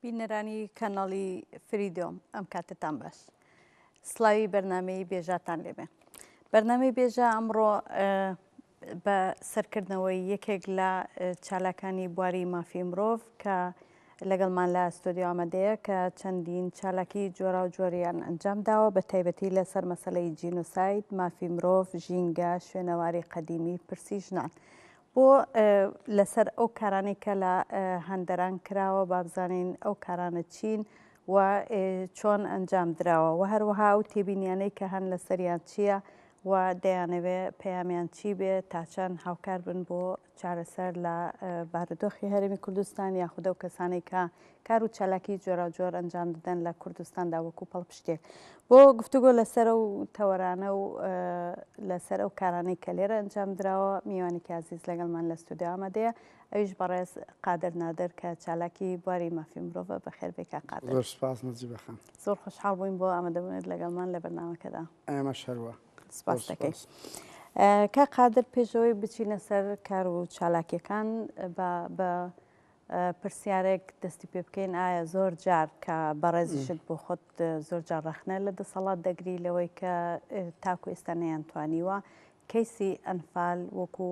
بینەرانی کەناڵی فریدۆم ئەم کاتتان باش سلاوی بەرنمەی بێژاتان لێبێ بەرنمەی بێژە ئەمڕۆ بە سەرکردنەوەی یەکێک لە چالاکانی بواری مافی مرۆڤ کە لەگەڵمان لە ستۆدیو ئامادەیە کە چەندین چالاکی جۆرا و جۆریان ئەنجام داوە بە تایبەتی لەسەر مەسلەی جینۆساید مافی مرۆڤ ژینگە شوێنەواری قەدیمی پرسی ژنان بۆ لەسەر ئەو کارانەی کە لە هەندەران کراوە با بزانین ئەو کارانە چین و چۆن ئەنجام دراوە و هەروەها ئەو تێبینیانەی کە هەن لەسەریان چییە و دەیانەوێ پەیامیان چی بێ تاچەند هاوکار بن بۆ چارەسەر لە بارودۆخی هەرێمی کوردستان یاخودە و کەسانێک کە کار و چالاکی جۆراوجۆر ئەنجام دەدەن لە کوردستاندا وەکو پەڵپشتێک بۆ گفتوگۆ لەسەر ئەو تەوەرانە و لەسەر ئەو کارانەی کە لێرە ئەنجام دراوە میوانێکی عزیز لەگەڵمان لە ستودیو ئامادەیە ئەویش بەڕێز قادر نادر کە چالاکی بواری مافی مرۆڤە بەخێربێکا قادر زۆر خۆشحاڵ بووین بۆ ئامادەبوونت لەگەڵمان لە بەرنامەکەدا ئەمە شەروە سپاس دەکەین. کا قادر پێشەوەی بچینە سەر کار و چالاکیەکان بە پرسیارێک دەستی پێ بکەین ئایا زۆر جار کە بەڕێزیشت بۆ خۆت زۆر جار ڕەخنە لە دەسەڵات دەگری لەوەی کە تاکو ئێستا نەیان توانیوە کەیسی ئەنفال وەکو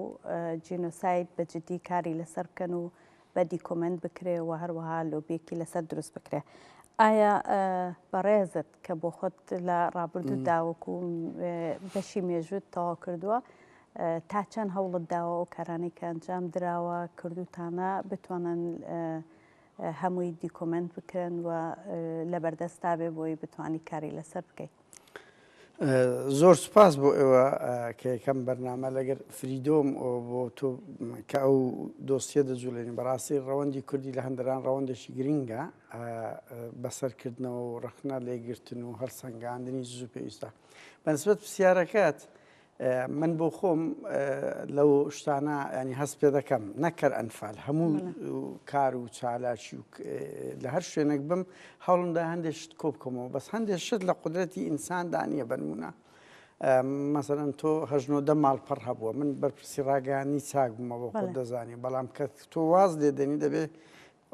جینۆساید بە جددی کاری لەسەر بکەن و بە دیکۆمنت بکرێ و هەروەها لۆبیەکی لەسەر دروست بکرێ ئایا بەڕێزت کە بۆ خۆت لە ڕابردوو داوەکو بەشی مێژوت تەواو کردووە تا چەند هەوڵت داوە ئەو کارانەی کە ئەنجام دراوە کردووتانە بتوانن هەمووی دیکۆمنت بکرن و لە بەردەستا بێ بۆی بتانی کاری لەسەر بکەیت. زۆر سوپاس بۆ ئێوە کە یەکەم بەرنامە لەگەر فریدۆم بۆ تۆ کە ئەو دۆسیە دەجوولێنی بەڕاستی ڕەوەندی کوردی لە هەندران ڕەوەندێکی گرنگە بەسەرکردنەوە و ڕخنە لێگرتن و هەڵسەنگاندنی زوو پێویستە بەسبەت پرسیارەکەت من بۆ خۆم لەو شتانە ینی هەست پێ دەکەم نەکەر ئەنفال هەموو کار و چالاکی و لە هەر شوێنێک بم هەوڵمدا هەندێک شت کۆ بکەمەوە بەس هەندێک شت لە قدرەتی ئینساندا نییە بنمونە مەسەرەن تۆ هەژنۆدە ماڵپەڕ هەبووە من بەرپرسی ڕاگەانی چاک بوومەوە خۆ دەزانانی بەڵام کە تۆ واز لێدەنی دەبێت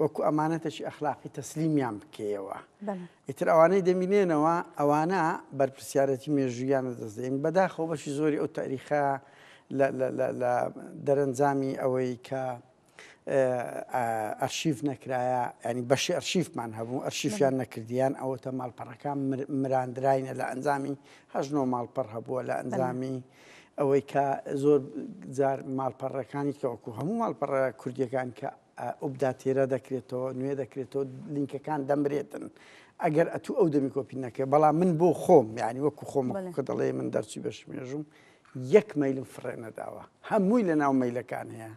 وەکو ئەمانەتەکی ئەخلاقی تەسلیمیان بکەیەوە ئیتر ئەوانەی دەمینێنەوە ئەوانە بەرپسیارەتی مێژوویان لە دەستدەین بەداخەوە بەشی زۆری ئەو تاریخە لە دەرەنجامی ئەوەی کە ئەرشیف نەکرایە ینی بەشی ئەرشیفمان هەبوو ئەرشیفیان نەکردیان ئەوەتە ماڵپەڕەکان مراندراینە لە ئەنجامی هەژنۆ ماڵپەڕ هەبووە لە ئەنجامی ئەوەی کە زۆر جار ماڵپەڕەکانی کەوەکو هەموو ماڵپەڕە کوردیەکان کە ئوپداتیرە دەکرێتەوە نوێ دەکرێتەوە لینکەکان دەمرێتن ئەگەر ئەتوو ئەو دەمی کۆپی نەکرێت بەڵام من بۆ خۆم یعنی وەکو خۆم کە دەڵێ من دەرچی بەش مێژوم یەک مەلم فڕێ نەداوە هەمووی لە ناو مەلەکان هەیە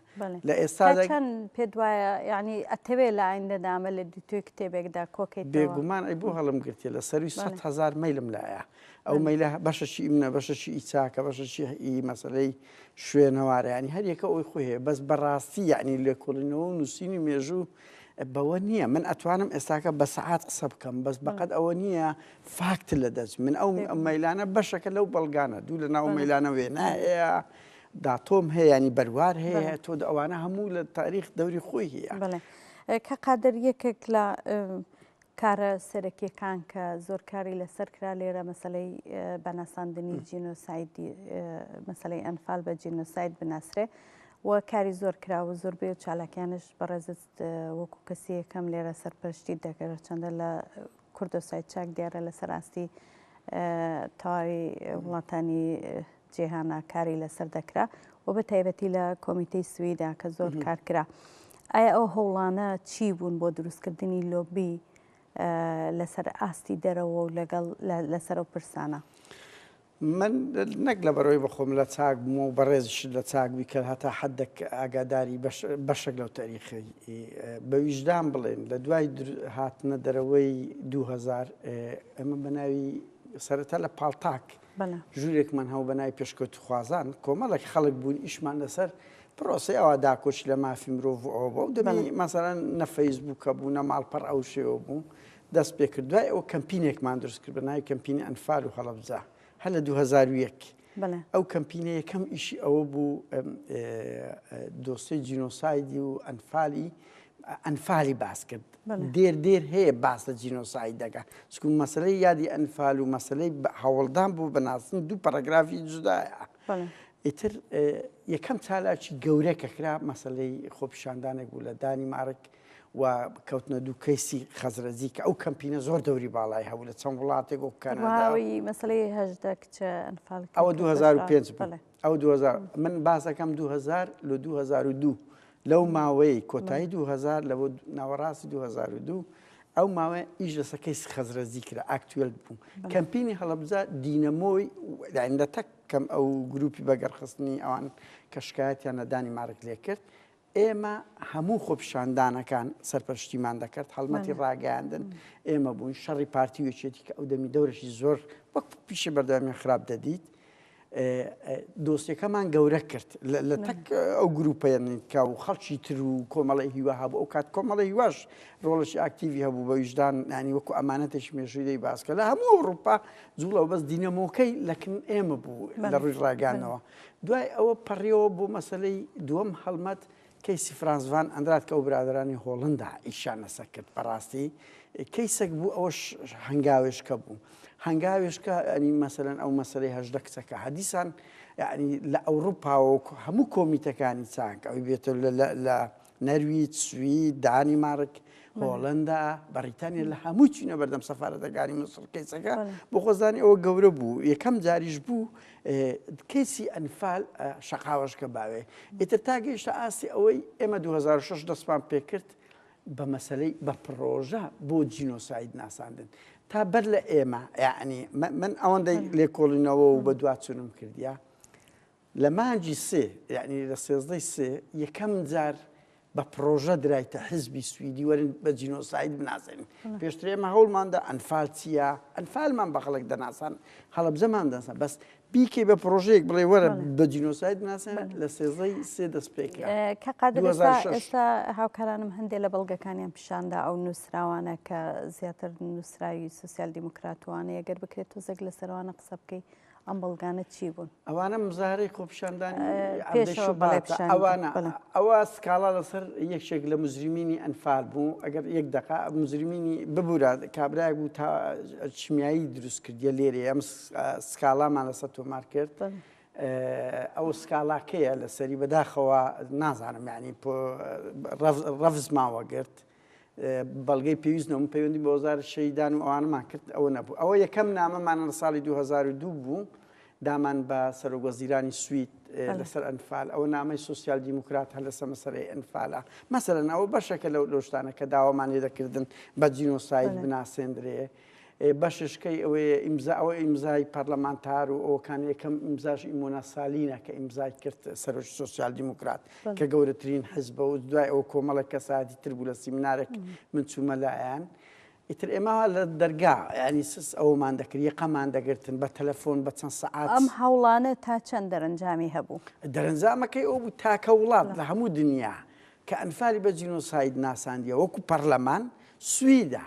لە ئێستا چەند پێ وایە ینی ئەتەوێ لە ئاین دەدامە لە دوتوێ کتێبێکدا کۆکەیت بێگومان ئەی بۆ هەڵم گرتێ لە سەروی سە هزار مەلم لایە ئەو مەلە بەشەشی ئیمنە بەشەشی ئیچاکە بەشەشی ئی مەسلەی شوێنەوارە یانی هەر یەکە ئەوی خۆی هەیە بەس بەڕاستی یانی لێکۆڵینەوە و نووسینی مێژوو بەوە نییە من ئەتوانم ئێستاکە بە سەعات قسە بکەم بەس بەقەت ئەوە نییە فاکت لە دەست من ئەو مەلانە بەشەکە لەو بەڵگانە دوو لە ناو مەلانە وێنا هەیە داتۆم هەیە ینی بەروار هەیە تۆ ئەوانە هەموو لە تاریخ دەوری خۆی هەیە کە قادر یەکێک لە کارە سەرەکیەکان کە زۆر کاری لەسەر کرا لێرە مەسەلەی بە ناساندنی جینۆسایدی مەسەلەی ئەنفال بە جینۆساید بناسرێ و کاری زۆر کرا و زۆر بێ و چالاکیانش بەڕێزت وەکو کەسی یەکەم لێرە سەرپەرشتی دەگەرە چەندە لە کوردۆسای چاک دیارە لەسەر ئاستی تەواوی وڵاتانی جیهانا کاری لەسەر دەکرا و بە تایبەتی لە کۆمیتەی سویدا کە زۆر کار کرا ئایا ئەو هەوڵانە چی بوون بۆ دروستکردنی لۆبی لەسەر ئاستی دەرەوە و لەگەڵ لەسەر و پرسانە من نەک لە بەرەوەی بەخۆم لە چاک بووم و بەڕێزیش لە چاک بی کە هەتا حدەک ئاگاداری بەشێک لەو تاریخی بە ویژدان بڵێن لە دوای هاتنە دەرەوەی 2000 ئەمە بەناوی سەرەتا لە پاڵتاک ژوورێکمان هەبوو بە ناوی پێشکەوتووخوازان، کۆمەڵێک خەڵک بووین ئیشمان لەسەر پرۆسەی ئەوە داکۆکی لە مافی مرۆڤ و ئەوە بوو، دەبینی مەسەلەن نە فەیسبووک هەبوو، نە ماڵپەڕ ئەو شێوە بوو، دەست پێ کرد. دوای ئەوە کەمپینێکمان دروست کرد بە ناوی کەمپینی ئەنفال و هەڵەبجە، هەر لە دوو هەزار و یەک. ئەو کەمپینە یەکەم ئیشی ئەوە بوو دۆسێی جینۆسایدی و ئەنفالی ئەنفالی باس کرد دێر دێر هەیە باس لە جینۆساید دەکە چکو مەسلەی یادی ئەنفال و مەسلەی هەوڵدان بۆ بەناسن دوو پەرەگرافی جودایە ئیتر یەکەم چالاکی گەورە کە کرا مەسلەی خۆپیشاندانێک بوو لە دانی مارک و کەوتنە دوو کەیسی خەزرەجی کە ئەو کەمپینە زۆر دەوری باڵای هەبوو لە چەند وڵاتێک و کەنەوەی مەسلەی هەشدە کچە ئەنفال ئەوە 2005 ئەو دوو هەزار من باس دەکەم دوو هەزار لە دوو هەزار و دوو لەو ماوەی کۆتایی دوو هەزار لە بۆ ناوەڕاستی دوو هەزار و دوو ئەو ماوەیە ئیش لەسەر کەیسی خەزرەزی کرا ئاکتوێل بوو کەمپینی هەڵەبجە دینەمۆی یعنی لە تەک کەم ئەو گروپی بەگەڕخستنی ئەوان کە شکایەتیان نەدانی مارک لێ کرد ئێمە هەموو خۆپیشاندانەکان سەرپەرشتیمان دەکرد هەڵمەتی ڕاگەیاندن ئێمە بوون شەڕی پارتی وچێتی کە ئەو دەمی دەورشی زۆر وەک پیشە بەردەوامی خراپ دەدیت دۆستەکەمان گەورە کرد لە تەک ئەو گروپەیەنکە و خەڵکی تر و کۆمەڵی هیوا هەبوو ئەو کات کۆمەڵی هیواش ڕۆڵشی ئاکتیوی هەبوو بە ویژدان نانی وەکو ئەمانەتێکی مێژووی باسکە لە هەموو ئەوروپا جوڵەوە بەس دینەمۆکەی لەکن ئێمە بوو لە ڕووی ڕاگانەوە. دوای ئەوە پەڕیەوە بۆ مەسەلەی دووەم هەڵمەت کەیسی فرانس ڤان ئەندراد کە ئەو برادەرانی هۆڵندا ی شانەسە کرد بەڕاستی کەیسەک بوو ئەوەش هەنگاوێشکە بوو هەنگاوێشکە ئەنی مەسەلەن ئەو مەسەلەی هەژدە کچەکە هەدیسان یعنی لە ئەوروپاوە هەموو کۆمیتەکانی چاک ئەوی بێتە لە نەرویج، سوید، دانیمارک، هۆڵەندا، بەڕیتانیا لە هەمووی چوینە بەردەم سەفارەتەکانی موسڵ کەیسەکە بۆ خۆزانی ئەوە گەورە بوو یەکەم جاریش بوو کەیسی ئەنفال شقاوەشکە باوێ ئیتر تا گەیشتە ئاستی ئەوەی ئێمە 2006 دەستمان پێکرد بە مەسلەی بە پرۆژە بۆ جینۆساید ناساندن تا بەر لە ئێمە یعنی من ئەوەندەی لێکۆڵینەوە و بە دواچونم کردیا لە مانگی سێ یەعنی لە سێزدەی سێ یەکەم جار بە پرۆژە درایتە حزبی سویدی وەرن بە جینۆساید بناسێنین پێشتر ئێمە هەوڵماندا ئەنفال چییە ئەنفالمان بە خەڵک دەناسان هەڵبجەمان دەسە بەس بیکەی بە پرۆژەیەک بڵێ وەرە بە جینۆساید ناسێن لە سێزەی سێ دەست پێکرا کە قادرستا هاوکارانم هەندێک لە بەڵگەکانیان پیشاندا ئەو نووسراوانە کە زیاتر نووسراوی سوسیال دیموکراتوانەیە گەر بکرێت تۆزێک لە سەروانە قسە بکەیت ئەم بەڵگانە چی بوون ئەوانە مزارەی خۆپشاندانی ئەوانە ئەوە سکاڵا لەسەر یەکێک لە مزرمینی ئەنفال بوو ئەگەر یەک دقا مزرمینی ببوورە کابراای بوو تا چمیایی دروست کردە لێرە ئەم سکاڵامان لەسەر تۆمار کرد ئەو سکاڵاکەیە لەسەری بەداخەوە نازانم یعنی ڕەفزمان وەگرت بەڵگەی پێویست نەبوو پەیوەندی بە وەزارەت شەهیدان و ئەوانەمان کرد ئەوە نەبوو ئەوە یەکەم نامەمان لە ساڵی 2002 بوو دامان بە سەرۆک وەزیرانی سوید لەسەر ئەنفال ئەوە نامەی سوسیال دیموکرات هەر لەسە مەسەرەی ئەنفالە مەسەرەن ئەوە بەشەکە لەو لۆشتانە کە داوامانێ دەکردن بە جینۆساید بناسێندرێ بەشش کەی ئەوەیە ئیمزا ئەوە ئیمزای پەرلەمانتار و ئەوکان یەکەم ئیمزاش ئیمۆنا سالینە کە ئیمزای کرد سەرۆکی سۆسیال دیموکرات کە گەورەترین حزبە و دوای ئەو کۆمەڵە کەسایەتی تر بوو لە سیمنارێک من چوومە لایەن ئیتر ئێمە لە دەرگا ینی سس ئەومان دەکرد یەقەمان دەگرتن بە تەلەفۆن بە چەند سەعات ئەم هەوڵانە تا چەند دەرەنجامی هەبوو دەرەنجامەکەی ئەو بوو تاکە وڵات لە هەموو دنیا کە ئەنفالی بە جینۆساید ناساندیە وەکو پەرلەمان سویدا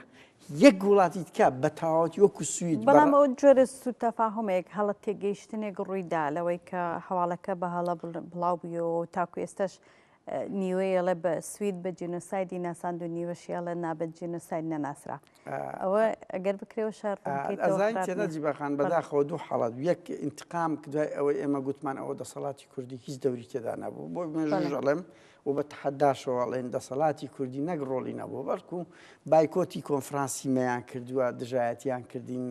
یەک وڵاتی تکا بە تەواوەتی وەکو سوید. بەڵام ئەوە جۆرە سوو تەفاهومێک هەڵە تێگەیشتنێک ڕووی دا لەوەی کە هەواڵەکە بە هەڵە بڵاو بویەوە و تاکو ئێستاش نیوەی ئەڵێ بە سوید بە جینۆسایدی ناساند و نیوەشی ئەڵێ نا بە جینۆساید نەناسرا ئەوە ئەگەر بکرێەوە شار جیباخان بەداخەوە دوو حاڵات یەک ئینتقام دوای ئەوەی ئێمە گوتمان ئەوە دەسەڵاتی کوردی هیچ دەوری تێدا نەبوو بۆ مێژەڵێم و بە تەحەداشەوە ئەڵێن دەسەڵاتی کوردی نەک ڕۆڵی نەبووە بەڵکو بایکۆتی کۆنفرانسی مەیان کردووە دژایەتیان کردین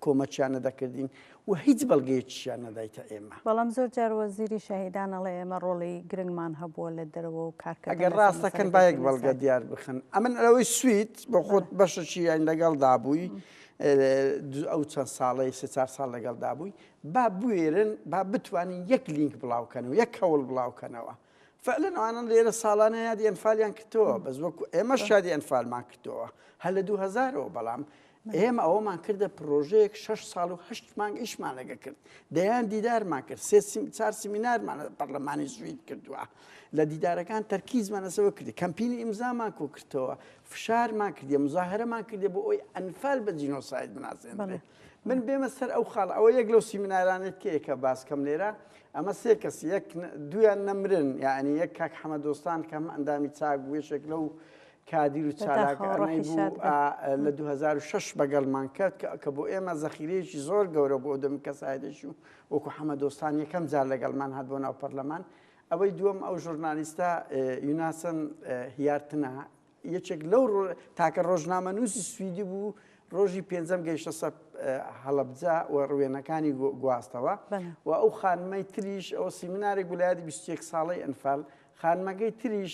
کۆمەچیان نەدەکردین و هیچ بەڵگەیەکیشیان نەدایتە ئێمە بەڵام زۆر جار وەزیری شەهیدان ئەڵێ ئێمە ڕۆڵی گرنگمان هەبووە لە دەرەوە و کارکردن لەسەر ئەگەر ڕاستەکەن با یەک بەڵگە مەسەلەکەی دیار بخەن ئەمن ئەوەی سوید بۆ خۆت بەشەکی یان لەگەڵدا بووی ئەو چەند ساڵەی سێ چار ساڵ لەگەڵدا بووی با بوێرن با بتوانن یەک لینک بڵاو کەن و یەک هەوڵ بڵاو کەنەوە فعلا ئەوانن لێرە ساڵانە یادی ئەنفالیان کردەوە بەس وەکو ئێمە شادی ئەنفالمان کردەوە هەر لە 2000ەوە بەڵام ئێمە ئەوەمان کردە پرۆژەیەک 6 ساڵ و هەشت مانگ ئیشمان لەگە کرد دەیان دیدارمان کرد سێ چار سمینارمان پەرلەمانی سوید کردووە لە دیدارەکان تەرکیزمانەسەوە کردی کەمپینی ئیمزامان کۆکردەوە فشارمان کردی مزاهرەمان کردی بۆ ئەوی ئەنفال بە جینۆساید بناسێنێت من بێمە سەر ئەو خاڵ ئەوە یەک لەو سیمینارانێت کەیە کە باس کەم لێرە ئەمە سێ کەس یەک دویان نەمرن یعنی یەک کاک حەمە دۆستان کەم ئەندامی چاک بوێشێک لەو کادیر و چالاکەڕی بوو لە 2006 بەگەڵمان کرد کە بۆ ئێمە زەخیرەیەکی زۆر گەورە بۆ دەم کەسایدێکی و وەکو حەمە دۆستان یەکەم جار لەگەڵمان هات بۆ ناو پەرلەمان ئەوەی دووەم ئەو ژورنالیستە یوناسن هیارتنە یەکێک لەو تاکە ڕۆژنامەنووسی سویدی بوو ڕۆژی پێنجەم گەیشتە سەر هەڵەبجە و ڕوێنەکانی گواستەوە و ئەو خانمەی تریش ئەو سیمینارێک گولایەتی 21 ساڵەی ئەنفال خانمەکەی تریش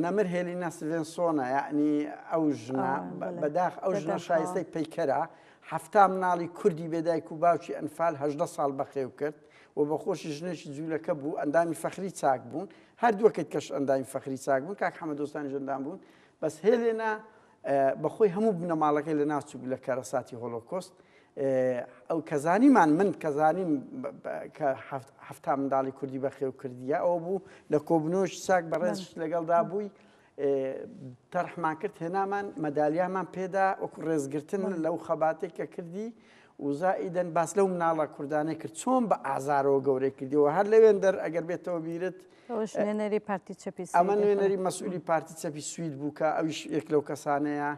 نەمر هێلی نەسڤێنسۆنە یعنی ئەو ژنا بەداخ ئەو ژنە شایستەی پەیکەرە هەفتا مناڵی کوردی بێدایک و باوکی ئەنفال هەدە ساڵ بەخێو کرد و بەخۆشی ژنێکی جوولەکە بوو ئەندامی فەخری چاک بوون هەردووەکەت کەش ئەندامی فەخری چاک بوون کاک حەمە دۆستانیش ئەندام بوون بەس هێلێنا بەخۆی هەموو بنەماڵەکەی لە ناو چوو لە کارەساتی هۆلۆکۆست ئەو کەزانیمان من کەزانیم کە هەفتا منداڵی کوردی بەخێو کردیە ئەو بوو لە کۆبنۆش چاک بەڕێز لەگەڵدا بووی تەرحمان کرد هێنامان مەدالیامان پێدا وەکو ڕێزگرتن لەو خەباتێک کە کردی وزائیدەن باس لەو مناڵە کوردانەی کرد چۆن بە ئازارەوە گەورەی کردیەوە هەر لەوێن دەر ئەگەر بێتەوە بیرت نوێنەری پارتی چەپی ئەمە نوێنەری مەسئولی پارتی چەپی سوید بوو کە ئەویش یەک لەو کەسانەیە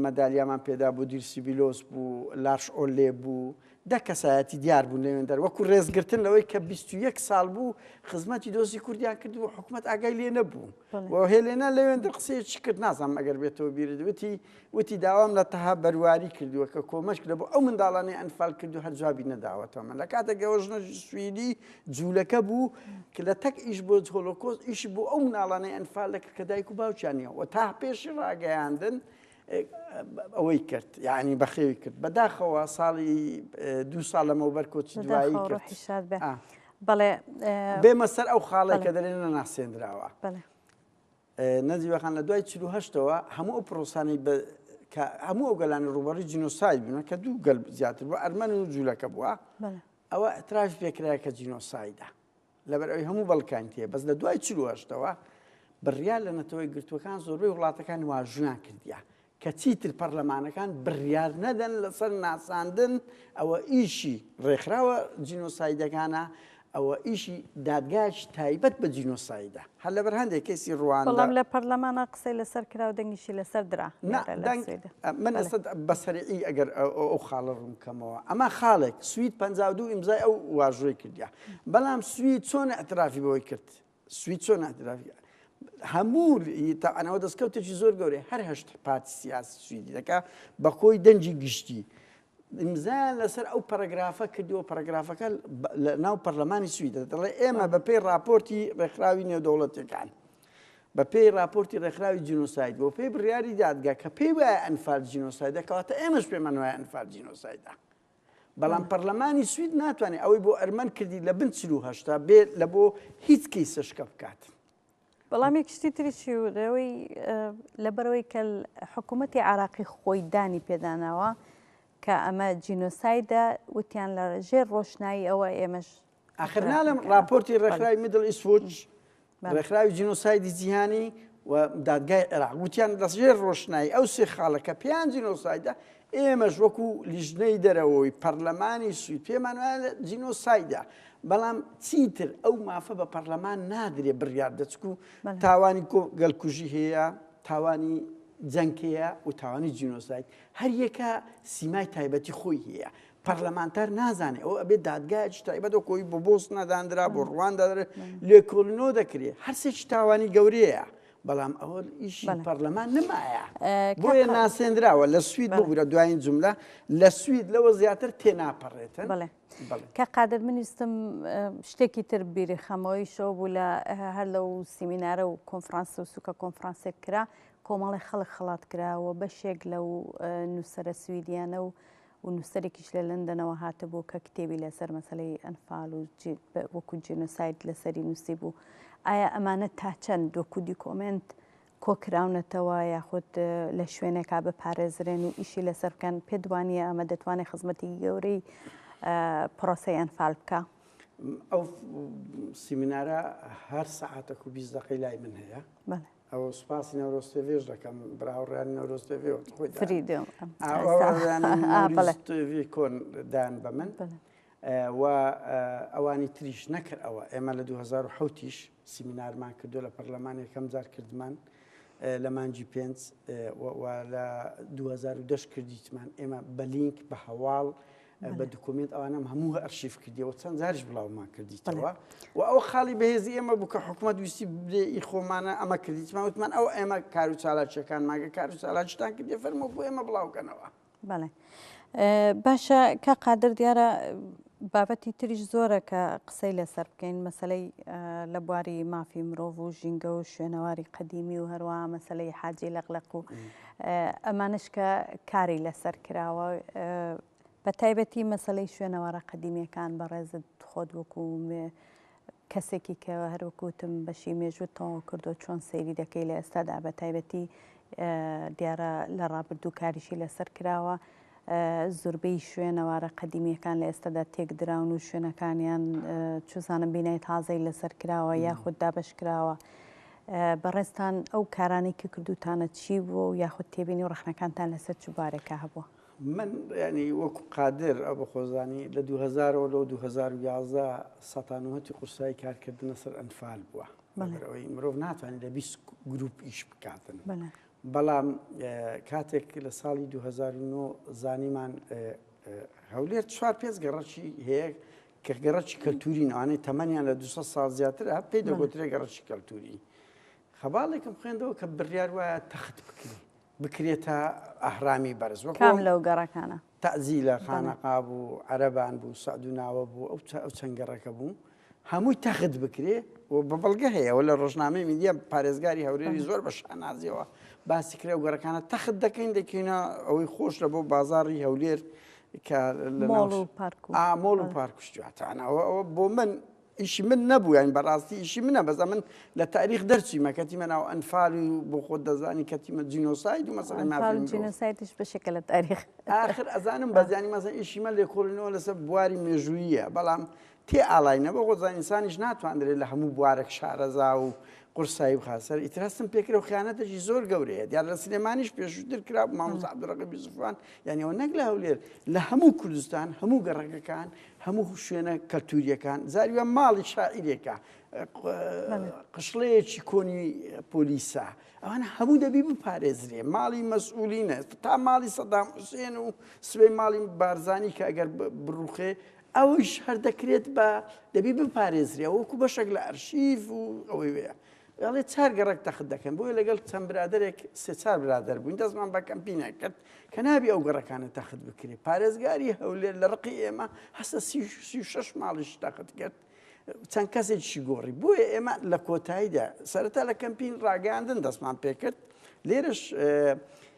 مەدالیامان پێدا بوو دیرسی بیلۆس بوو لاش ئۆلێ بوو دە کەسایەتی دیار بوون لەوێندەر وەکو ڕێزگرتن لەوەی کە 21 ساڵ بوو خزمەتی دۆزی کوردیان کرد و حکوومەت ئاگای لێ نەبوو بۆ هێلێنا لەوێندە قسەیەکی کرد نازانم ئەگەر بێتەوە بیرت وتی وتی داوام لە تەها بەرواری کردووە کە کۆمەش لە بۆ ئەو منداڵانی ئەنفال کرد و هەر جوابی نەداوەتەوە من لە کاتێکەوە ژنە سویدی جوولەکە بوو کە لە تەک ئیش بۆ هۆلۆکۆز ئیشی بۆ ئەو مناڵانەی ئەنفال دەکرد کە دایک و باوچانیەوە تا پێشی ڕاگەیاندن ئەوەی کرد یعنی بەخێوی کرد بەداخەوە ساڵی دو ساڵ لەمەوبەر کۆچی دوایی کرد بەڵێ بێمە سەر ئەو خاڵی کە دەێن نەناسێنراوە نەزیوەخان لە دوای چهشتەوە هەموو ئەو پرۆسانی هەموو ئەو گەلانی ڕوبەڕی جنۆسای بوون کە دوو گەل زیاتر بۆ ئەرمەن و جوولەکە بووە ئەوە ئەتراش پێکرایە کە جینۆسایدا لەبەر ئەوی هەموو بەڵکانی تێ بەس لە دوای چلو هەشتەوە بڕیار لە نەتەوەی گرتوەکان زۆربەی وڵاتەکان واژویان کردیا کە چیتر پەرلەمانەکان بڕیار نەدەن لەسەر ناساندن ئەوە ئیشی ڕێکخراوە جینۆسایدەکانە ئەوە ئیشی دادگاش تایبەت بە جینۆسایدە هەر لە بەرهندێک کەسی ڕوان بەڵام لە پەرلەمانە قسەی لەسەر کرا و دەنگیشی لەسەر درا من بەسەرعی ئەگەر ئەو خاڵە ڕوونکەمەوە ئەمە خاڵێک سوید پ دوو ئیمزای ئەو واژۆی کردیا بەڵام سوید چۆن ئەترافی بەوەی کرد سوید چۆن ئەترافی هەموو تاعانەوە دەستکەوتێکی زۆر گەورەی هەر هەشت پارتی سیاسی سویدی دەکا بە کۆی دەنجی گشتی ئیمزایان لەسەر ئەو پەرگرافە کردیەوە پەرگرافەکە لە ناو پەرلەمانی سویدە دەڵێ ئێمە بە پێی راپۆرتی ڕێکخراوی نێودەوڵەتەکان بە پێی راپۆرتی ڕێکخراوی جینۆساید بۆ پێی بڕیاری دادگا کە پێی وایە ئەنفال جینۆسایدە کەواتە ئێمەش پێمان وایە ئەنفال جینۆسایدە بەڵام پەرلەمانی سوید ناتوانێت ئەوەی بۆ ئەرمەن کردی لە بن چلو هەشتا بێ لە بۆ هیچ کیسە شکە بکات. بەڵام یەک شتی تریشی و لەوەی لەبەرەوەی کە حکوومەتتی عراقی خۆی دانی پێداناوە کە ئەمە جینۆسایدە وتیان لە ژێر ڕۆشنایی ئەوە ئێمەش ئاخرناڵم راپۆرتی ڕێکخراوی میدل ئیسوچ ڕێکخراوی جینۆسایدی جیهانی و دادگای عێراق وتیان دەستژێر ڕۆشنایی ئەو سێ خاڵەکە پێیان جینۆسایدە ئێمەش وەکو لیژنەی دەرەوەی پەرلەمانی سوی پێمان جینۆسایدە بەڵام چیتر ئەو مافە بە پەرلەمان نادرێ بڕیار دەچکو تاوانی گەلکوژی هەیە تاوانی جەنکەیە و تاوانی جینۆسایت هەر یەکە سیمای تایبەتی خۆی هەیە پەرلەمانتار نازانێ ئەو ئەبێ دادگایش تایبەت و کۆی بۆ بۆسنە دانرا بۆ ڕواندا لێکۆلنەوە دەکرێت هەرسێکی تاوانی گەورەیە بەڵام ئەوە ئیشی پەرلەمان نمایە بۆیە ناسێنراوە لە سوید بگورە دوایین جملە لە سوید لەوە زیاتر تێناپەڕێتن بڵێ کە قادر منیستم شتێکی تر بیری خەمەوەی شەو بوو لە هەر لەو سیمینارە و کۆنفرانس و سوکە کۆنفرانسێک کرا کۆمەڵی خەڵک خڵات کراوە بەشێک لەو نووسرە سویدیانە و و نووسەرێکیش لە لەندەنەوە هاتبوو کە کتێبی لەسەر مەسەلەی ئەنفال و وەکو جینۆساید لەسەری نووسیبوو. ئایا ئەمانە تا چەند وەکو دیکۆمێنت کۆکراونەتەوە یاخود لە شوێنێکا بپارێزرێن و ئیشی لەسەر بکەن، پێت وانییە ئەمە دەتوانێت خزمەتێکی گەورەی پرۆسەی ئەنفال بکا؟ ئەو سیمینارە هەر سەعاتێک و بیست دەقەی لای من هەیە. بەڵێ. ئەو سوپاسی نەورۆز تێڤێش دەکەم براوڕیانی نەورۆز تێڤێ خۆی تێڤی کۆن دان بە من و ئەوانی تریش نەکرد ئەوە ئێمە لە 2010ش سیمینارمان کردو لە پەرلەمان یەکەم جار کردمان لە مانجی پێنج لە 2010 کردیتمان ئێمە بەلینک بە هەواڵ بە دکومنت ئەوانم هەموو ئەرشیف کردیەوە چەند زارش بڵاومان کردیتەوە و ئەو خاڵی بەهێزی ئێمە بوو کە حکوومەت ویستی بێ خۆمانە ئەمە کردیتمان وتمان ئەو ئێمە کار و چالاکیەکان ماگە کار و چالاکیتان کردێ فەرمۆ بۆ ئێمە بڵاوکەنەوە بەڵێ باشە کە قادر دیارە بابەتی تریش زۆرە کە قسەی لەسەر بکەین مەسلەی لە بواری مافی مرۆڤ و ژینگە و شوێنەواری قەدیمی و هەروە مەسلەی حاجی لەقلق و ئەمانەش کە کاری لەسەر کراوە بە تایبەتی مەسلەی شوێنەوارە قەدیمیەکان بەڕێزت خۆت وەکو کەسێکی کە هەروکوتم بەشی مێژوو تەواو کردو چۆن سەیری دەکەی لە ئێستادا بە تایبەتی دیارە لە ڕابردوو کاریشی لەسەر کراوە زوربەی شوێنەوارە قەدیمیەکان لە ئێستەدا تێک دراون و شوێنەکانیان چزانم بینای تازەی لەسەر کراوە یاخود دابش کراوە. بەڕێزتان ئەو کارانەی کە کردوتانە چی بوو و یاخود تێبینی و ڕخنەکانتان لەسەر چ بارێکە هەبووە؟ من ینی وەکو قادر ئەو بە خۆزانی لە 2000ەوە لەو 2011 سەتانوهتی قورسایی کارکردنە سەر ئەنفال بووە ئەوەی مرۆڤ ناتوانێت لە بیست گروپ ئیش بکاتن بەڵام کاتێک لە ساڵی دوو هەزار و نۆ زانیمان هەولێر چوار پێنج گەڕەکی هەیە کە گەڕەکی کەلتوری نوانەی تەمەنیان لە 200 سال زیاتر هە پێی دەگوترێ گەڕەکی کەلتوری خەباڵێکم خوێندەوە کە بڕیار وایە تەخت بکرێت بکرێتە ئەهرامی بەرز وەکام لەو گەڕەکانە تەعزیلە خانەقا بوو، عەرەبان بوو، سەعدوناوە بوو، ئەو چەند گەڕەکە بوو، هەمووی تەخت بکرێ و بە بەڵگە هەیە، ئەوە لە ڕۆژنامەی میدیا پارێزگاری هەولێری زۆر بە شانازییەوە باسی کرا و گەڕەکانە تەخت دەکەین دەکەینە ئەوەی خۆش لە بۆ بازاڕی هەولێر کە لە مۆڵ و پارک و شتواتانەوە ئەوە بۆ من ئیشی من نەبوو یانی بەڕاستی ئیشی منە بەس ئەمن لە تاریخ دەرچیمە کەتیمە ناو ئەنفال و بۆ خۆت دەزانی کەتیمە جینۆساید و مەسەلەی مافی جینۆسایدش بەشێکە لە تاریخ ئاخر ئەزانم بەزیانی مەسەن ئیشی من لێکۆڵینەوە لەسەر بواری مێژوویە بەڵام تێ ئاڵاینە بۆ خۆزان ئینسانیش ناتواندرێت لە هەموو بوارێک شارەزا و قورسایی و خاسەر ئیتراستم پێکرە و خیانەتەشی زۆر گەورەیە دیار لە سلێمانیش پێشووتر کرا مامۆسا عبدالرقیب یوسفان یعنی ئەوە نەک لە هەولێر لە هەموو کوردستان هەموو گەڕەکەکان هەموو شوێنە کەلتوریەکان زارویان ماڵی شاعیرێکە قشڵەیەکی کۆنی پۆلیسە ئەوان هەموو دەبی بپارێزرێ ماڵی مەسئولینە تا ماڵی سەدام حوسێن و سبەی ماڵی بارزانانی کە ئەگەر بڕوخێ ئەوش هەر دەکرێت بە دەبی بپارێزرێ وەکو بەشێک لە ئەرشیف و ئەوەی وەیە دەڵێت چار گەڕەک تەخت دەکەن بۆیە لەگەڵ چەند برادێک سێ چار برادر بووین دەستمان بە کەمپینە کرد کە نابی ئەو گەڕەکانە تەخت بکرێت پارێزگاری هەولێر لە ڕقی ئێمە هەستە سی شش ماڵیش تەخت کرد چەند کەسێکشی گۆڕی بۆیە ئێمە لە کۆتاییدا سەرەتا لە کەمپین ڕاگەاندن دەستمان پێکرد لێرش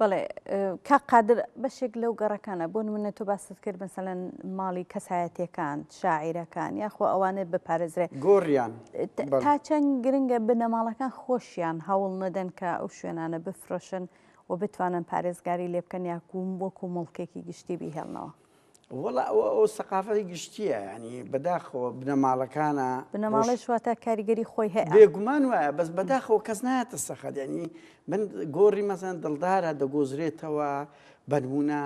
بەڵێ کاک قادر بەشێک لەو گەڕەکانە بۆ نمونە تۆ باست کرد مەسەلەن ماڵی کەسایەتیەکان شاعیرەکان یاخۆ ئەوانێت بپارێزرێ گۆڕیان تا چەند گرنگە بنەماڵەکان خۆشیان هەوڵ نەدەن کە ئەو شوێنانە بفرۆشن و بتوانن پارێزگاری لێ بکەن یاکوم وەکو موڵکێکی گشتی بیهێڵنەوە. وەڵا ئەوە ئەو سەقافەتی گشتییە یانی بەداخەوە بنەماڵەکانە بنەماڵەش واتە کاریگەری خۆی هەیە بێگومان وایە بەس بەداخەوە کەس نایەتە سەخەت ینی من گۆڕی مەزان دڵدارە دەگۆزرێتەوە بەنمونە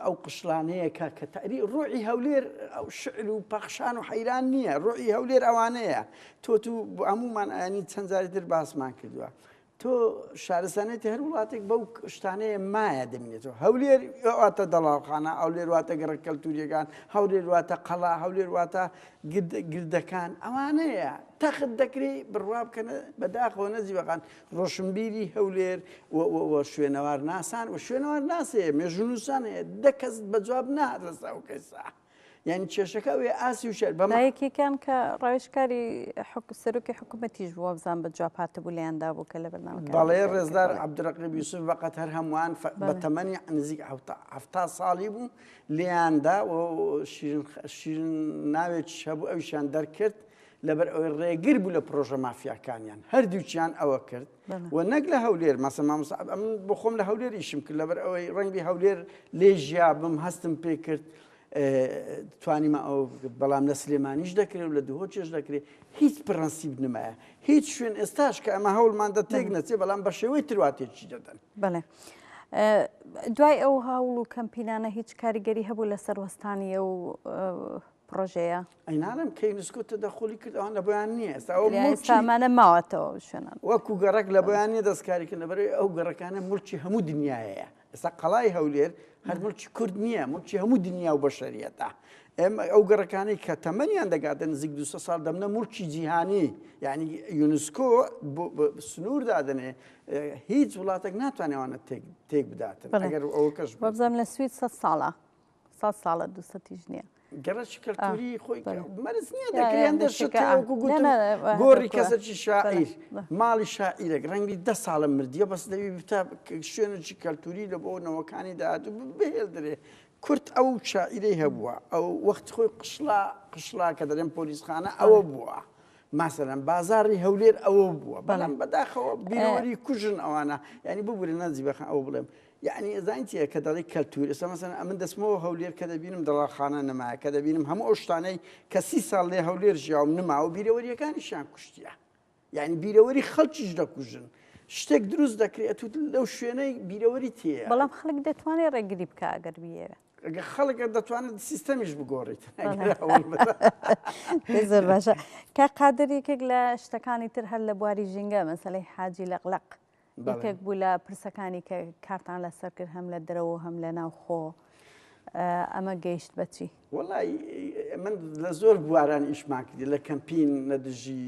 ئەو قشلانەیە کە کە تەری ڕۆعی هەولێر ئەو شعر و پەخشان و حەیران نییە ڕۆعی هەولێر ئەوانەیە تۆ تو هەمومان ئەنی چەندجاری در باسمان کردووە تۆ شارستانێتی هەر وڵاتێک بەو شتانەیە مایە دەمێنێتەوە هەولێر واتە دەڵاوخانە ئەولێر واتە گەڕە کەلتوریەکان هەولێر واتە قەڵا هەولێر واتە گردەکان ئەوانەیە تەخت دەکری بڕوا بکەنە بەداخەوە نەزیبەکان ڕۆشنبیری هەولێر شوێنەوار ناسان و شوێنەوار ناسێ مێژونووسان هەیە دەکەس بە جواب نارەسا و کەسە. یانی کێشەکە ئەوێ ئاسی و شەر بە بەمە یەکێکیان کە ڕاوێژکاری حک سەرۆکی حکوومەتیش بووە بزان بە جواب هاتبوو لێیاندا بوو کە لە بەرنامەکە بەڵێ ڕێزدار عەبدولڕەقیب یوسف بەقەد هەر هەمووان فە بە بەڵێ تەمەنی نزیک حەفتا حەفتا ساڵی بوو لێیاندا و شیرین خ شیرین ناوێکیش هەبوو ئەویشیان دەرکرد لەبەر ئەوەی ڕێگر بوو لە پڕۆژە مافیاکانیان هەردووکیان ئەوە کرد. و نەک لە هەولێر مەسە مامۆستا ئەم بۆ خۆم لە هەولێر ئیشم کرد لەبەر ئەوەی ڕەنگبی هەولێر لێ ژیابم هەستم پێ کرد توانیمە ئەو بەڵام لە سلێمانیش دەکرێت و لە دهۆ چێش دەکرێت هیچ پرەنسیب نمایە هیچ شوێن ئێستاش کە ئەمە هەوڵمان دە تێک نەچێ بەڵام بە شێوەی ترواتێکی دەدەن بڵێ. دوای ئەو هاوڵ و کەمپینانە هیچ کاریگەری هەبوو لە سەروەستانیە و پڕۆژەیە ئەی نانم کەی نسکۆتە دە قولی کرد ئەوان لە بۆیان نییە ئێستا ئەو لە مڵکی سامانە ماوەتەوە شوێنان وەکو گەڕک لە بۆیان نیە دەستکاریکە لەبەرەی ئەو گەڕەکانە ملکی هەموو دنیاەیە ئێستا قەڵای هەولێر هەر ملکی کورد نییە ملکی هەموو دنیا و بەشەریەتە ئێمە ئەو گەڕەکانەی کە تەمەنیان دەگاتە نزیک دو سال دەمنە ملکی جیهانی یعنی یونسکۆ بۆ بە- بە سنوور دادنێ هیچ وڵاتێک ناتوانێوانە تێک تێک بداتن بەڵێ. ئەگەر ئەوە کەش بێت. وەبزانم لە سوید سەد ساڵە سەد ساڵە دوو سەتیش نییە. گەڕەکی کەلتوری خۆی مەرز نییە دەکرێن دەشتەوەکو گوتم گۆڕی کەسەکی شاعیر ماڵی شاعیرێک ڕەنگی دە ساڵە مردیە بەس دەوی بتا شوێنێکی کەلتوری لە بۆ نەوەکانی داهاتوو بهێڵدرێ کورت ئەو شاعیرەی هەبووە ئەو وەخت خۆی قشلا قشلا کە دەرێن پۆلیسخانە ئەوە بووە. ماسەرم بازاری هەولێر ئەوە بووە بەڵام بەداخەوە بیرۆری کوژن ئەوانە ینی ببورە نازی بەخە ئەو بڵێم یەعنی زانین چیە کە دەڵی کەلتور ئێستا مەسەن ئەمن دەسمەوە هەولێر کە دەبینم دەڵاخانە نەمایە کە دەبینم هەموو ئەو شتانەی کە سی ساڵ لێ هەولێر ژیاوم نماوە بیرەوەریەکانیشیان کوشتیە یعنی بیرەوەری خەڵکیش دەکوژن شتێک دروست دەکرێت و لەو شوێنەی بیرەوەری تێە بەڵام خەڵک دەتوانێت ڕێگری بکە ئەگەر بیێوێ ئەگە خەڵکە دەتوانێت سیستەمیش بگۆڕیت زۆر باشە کە قادر یەکێک لە شتەکانی تر هەر لە بواری ژینگە مەسلەی حاجی لەقلق یەکێک بوو لە پرسەکانی کە کارتان لەسەر کرد هەم لە دەرەوە هەم لە ناو خۆ ئەمە گەیشت بەچی وڵی من لە زۆر بواران ئیشمان کردی لە کەمپین لە دژی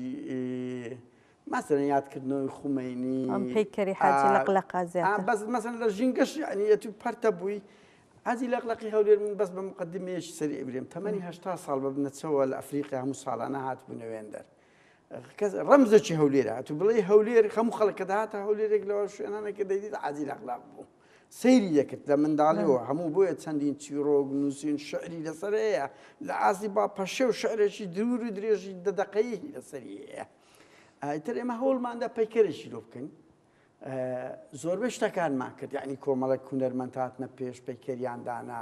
مەسەرە یادکردنەوەی خومینی پێکەری حاجی لەق لە قازیان بەس مەسن لە ژینگەش عنیەتی پەرتە بووی ئازی لەقلقی هەولێر من بەس بە مقدمێش سەری ئەبرێم تەمەنی هشتا ساڵ بە بنەچەوە لە ئەفریقیا هەموو ساڵانە هاتبوونەوێندەر کەس ڕەمزێکی هەولێر هاتو بڵێ هەولێر خەموو خەڵکە داهاتە هەولێرێک لەوە شوێنانەکە دەیدیت عادی لەخلاق بوو سەیری دەکرد لە منداڵیەوە هەموو بۆیە چەندین چیرۆک نووسین شعری لەسەر هەیە لە ئازی با پەشێ و شعرێکی دوور و درێژی دەدەقەیەکی لەسەری هەیە ئایتر ئێمە هەوڵماندا پەیکەرێکی لۆ بکەین زۆربەی شتەکانمان کرد یعنی کۆمەڵێک هونەرمەند هاتنە پێش پەیکەریان دانا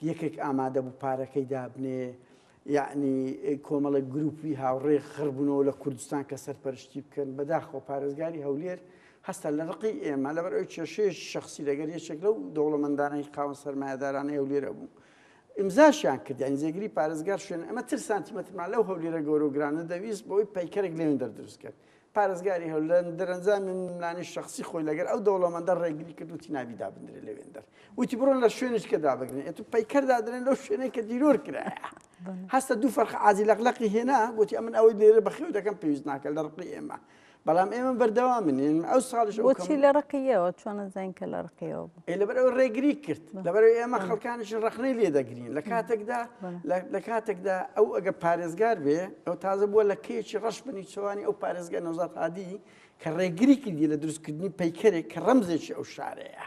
یەکێک ئامادە بوو پارەکەی دابنێ یعنی کۆمەڵێک گروپی هاوڕێ خڕبوونەوە لە کوردستان کە سەرپەرشتی بکەن بەداخۆ پارێزگاری هەولێر هەستا لە ڕقی ئێمە لەبەر ئەو کێشەیە شخصی لەگەر یەکێک لەو دەوڵەمەندانەی قاون سەرمایهدارانەی هەولێرە بوو ئمزاشیان کردیان زێگری پارێزگار شوێن ئەمە تر سانتیمەترمان لەو هەولێرە گەورۆگرانە دەویست بۆی پەیکەرێک لێن دەردروست کرد پارێزگاری هەولێر دەرەنجامی ململانێی شەخسی خۆی لەگەر ئەو دەوڵەمەندە ڕێگری کرد وتی نابی دابدرێت لەوێندەر وتی بڕۆن لە شوێنش کە دابگرن ئێت و پەیکەر دادرێن لەو شوێنەی کە دیرۆر کرایە هەستە دوو فەرخ ئازی لەقلەقی هێنا گوتی ئەمن ئەوەی لێرە بەخێو دەکەم پێویست ناکە لە ڕقی ئێمە بەڵام ئێمە بەردەوا منێن ئەو ساڵش وەچی لە ڕقیەوە چۆن زین کە لە ڕقیەوە لەبەرەوە ڕێگری کرد لەبەرەوە ئێمە خەڵکانیش ڕخنەی لێ دەگرین لە کاتێکدا لە کاتێکدا ئەو ئەگە پارێزگار بێ ئەو تازە بووە لە کێکی ڕەش بنی چوانی ئەو پارێزگە نەوزات هادی کە ڕێگری کردی لە دروستکردنی پەیکەرێک کە ڕەمزێکی ئەو شارەیە.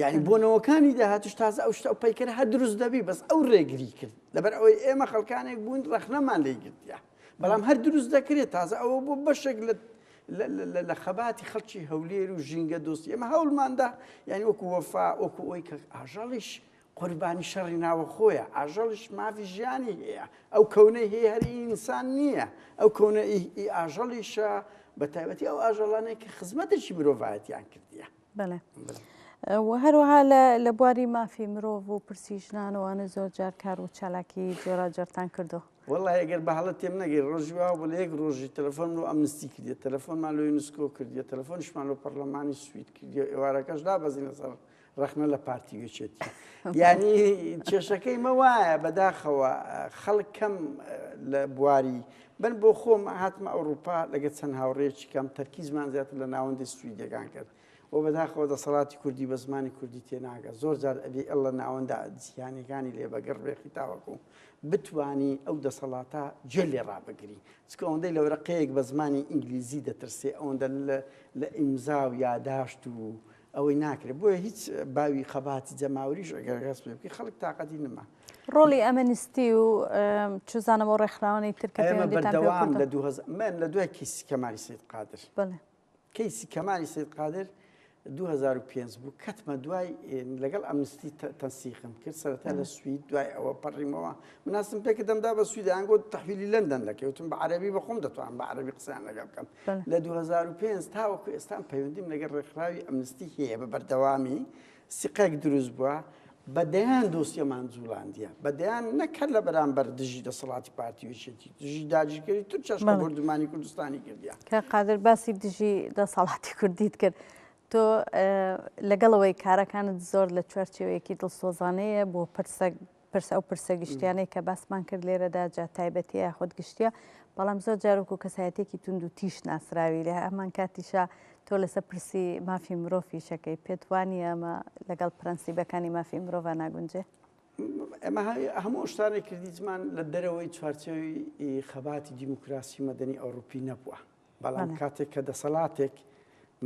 یعنی بۆنەوەکانی داهاتش تازە ئەو شتە پەیکەر هە دروست دەبی بەس ئەو ڕێگری کرد لەبەر ئەوەی ئێمە خەڵکانێک بوون ڕخنەمان لێ گرتە. بەڵام هەر دروست دەکرێت تازە ئەوە بۆ بەشێک لە لە خەباتی خەڵکی هەولێر و ژینگە دۆستی ئەمە هەوڵماندا یعنی وەکو وەفا وەکو ئەوی کە ئاژەڵیش قوربانی شەڕی ناوە خۆیە ئاژەڵش مافی ژیانی هەیە ئەو کەونەی هەیە هەری ئینسان نییە ئەو کەونە ئاژەڵیشە بە تایبەتی ئەو ئاژەڵانێک کە خزمەتێکی مرۆڤایەتیان کردیە بەڵێ هەروەها لە بواری مافی مرۆڤ و پرسی ژنانەوانە زۆر جار کار و چالاکی جۆراجارتان کردو وەڵی ئەگەر بەهڵە تێم نەگەی ڕۆژی وا بە لە یەک ڕۆژی تەلەفۆن و ئەمنستی کردێت تەلەفۆن مالۆی نسکۆ کردێت تەلەفۆنشمان و پەرلەمانی سویت کردی و ئێوارەکەش دا بەزینە سەر ڕخنە لە پارتی وێچێتی یعنی کێشەکەی مە وایە بەداخەوە خەڵکەم لە بواری من بۆ خۆم هاتمە ئەوروپا لەگە چەند هاوڕێیەکی کەم تەرکیزمان زیاتر لە ناوەندی سویدەکان کرد و بەداخەوە دەسەڵاتی کوردی بە زمانی کوردی تێناگە زۆر جار ئەلی ئەلە ناوەندە جیهانەکانی لێ بەگەڕ بێخی تاوەکو بتانی ئەو دەسەڵاتە جێ لێ ڕابگری چکە ئەوەندەی لە وەرەقەیەک بە زمانی ئینگلیزی دەترسێ ئەوەندە لە ئیمزا و یاداشت و ئەوەی ناکرێت بۆیە هیچ باوی خەباتی جەماوریش ئەگەر غەس پێ بکە خەڵک تااقەتی نما ڕۆلی ئەمەنیستی و چزانەوە ڕێکخراوانی ترکەوام لە دو من لە دوای کیسی کەماری سید قادر کەیسی کەماری سید قادر 2005 بوو کەتمە دوای لەگەڵ ئەمنستی تەنسیخم کرد سەرەتا لە سوید دوای ئەوە پەڕیمەوە مناسم پێکە دەمدا بە سویدیان گۆت تحویلی لەندەن دەکەوتم بە عربی بە خۆم دەتوان بە عربی قسان لەگەڵ بکەم لە دوو هەزار و پێنج تاوەکو ئێستام پەیوەندیم لەگەڵ ڕێکخراوی ئەمنستی هەیە بە بەردەوامی سیقەک دروست بووە بە دەیان دۆسیەمان جوڵاندیە بە دەیان نەکرد لە بەرامبەر دژی دەسەڵاتی پارتی وشێتی دژی داجیگەری تو چەشمە بردومانی کوردستانی کردیا کە قادر باسی دژی دەسەڵاتی کوردیت کرد تۆ لەگەڵەوەی کارەکانت زۆر لە چوارچێوەیەکی دڵسۆزانەیە بۆ پرسە پرس ئەو پرسە گشتیانەی کە باسمان کرد لێرەدا جا تایبەتیە یاخود گشتیە بەڵام زۆر جارۆک و کەسایەتێکی تونند و تیش ناسراوی لە ئەمان کاتیشە تۆ لەسە پرسی مافی مرۆڤیشەکەی پێتوانی ئەمە لەگەڵ پرەنسیبەکانی مافی مرۆڤ ناگونجێ ئەمە هەموو شتانێک کردیجمان لە دەرەوەی چوارچەوی خەباتی دیموکراسی مەدەنی ئەوروپی نەبووە بەڵام کاتێک کە دەسەڵاتێک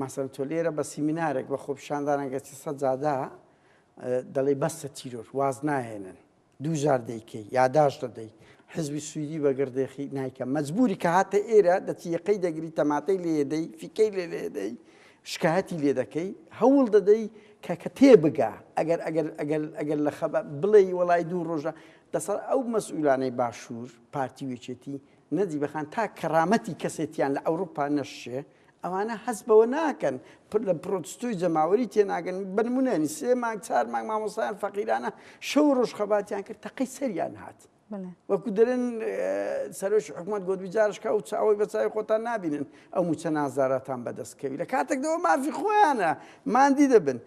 ماسەن تۆ لێرە بە سیمینارێک بە خۆپشاندانەگەچی سەجادا دەڵی بەسە تیرۆر واز ناهێنن دوو جار دەیکەی یاداش دەدەی حزبی سویدی بەگردێخی نایکە مەجبوری کە هاتە ئێرە دەتیەکەی دەگری تەماتەی لێدەی فیکەی لێ لێدەی شکایەتی لێ دەکەی هەوڵ دەدەی کە کە تێ بگا ئەگەر ئەگەر ئەگەر ئەگەر لە خەبە بڵێ وڵی دوو ڕۆژە دەسەر ئەو مەسئولانەی باشوور پارتی وێچێتی نەجیبە خان تا کەرامەتی کەسێتیان لە ئەوروپا نەششێ ئەوانە هەست بەوە ناکەن پر لە پرۆتستوی جەماوەری تێناگەن بە نمونە ینی سێ مانگ چار مانگ مامۆستایان فەقیرانە شەو و ڕۆژ خەباتیان کرد تەقەی سەریان هات بەڵێ وەکو دەرن سەرۆکی حکوومەت گۆت بجارشکە و چاوەی بە چاوی خۆتان نابینن ئەو موچە نازاراتان بەدەستکەوی لە کاتێکەوە مافی خۆیانە مادی دەبن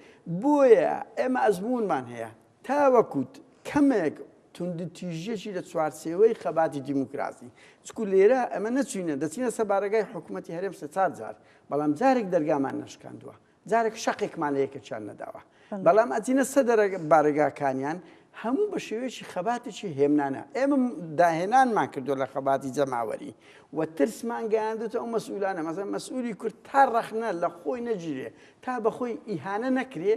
بۆیە ئێمە ئەزمونمان هەیە تاوەکو کەمێک توندوتیژیەکی لە چوارچێوەی خەباتی دیموکراسی، چکو لێرە ئەمە نەچوینە دەچینە سەر بارەگای حکومەتی هەرێم سێ چار جار، بەڵام جارێک دەرگامان نەشکاندوە، جارێک شەقێکمان لە یەکێکیان نەداوە، بەڵام ئەچینە سە بارەگاکانیان هەموو بە شێوەیەکی خەباتێکی هێمنانە، ئێمە داهێنانمان کردوە لە خەباتی جەماوەری و ترسمان گەیاندوتە ئەو مەسئولانە، مەسەلەن مەسئولی کورد تا ڕەخنە لە خۆی نەگیرێ، تا بە خۆی ئیهانە نەکرێ،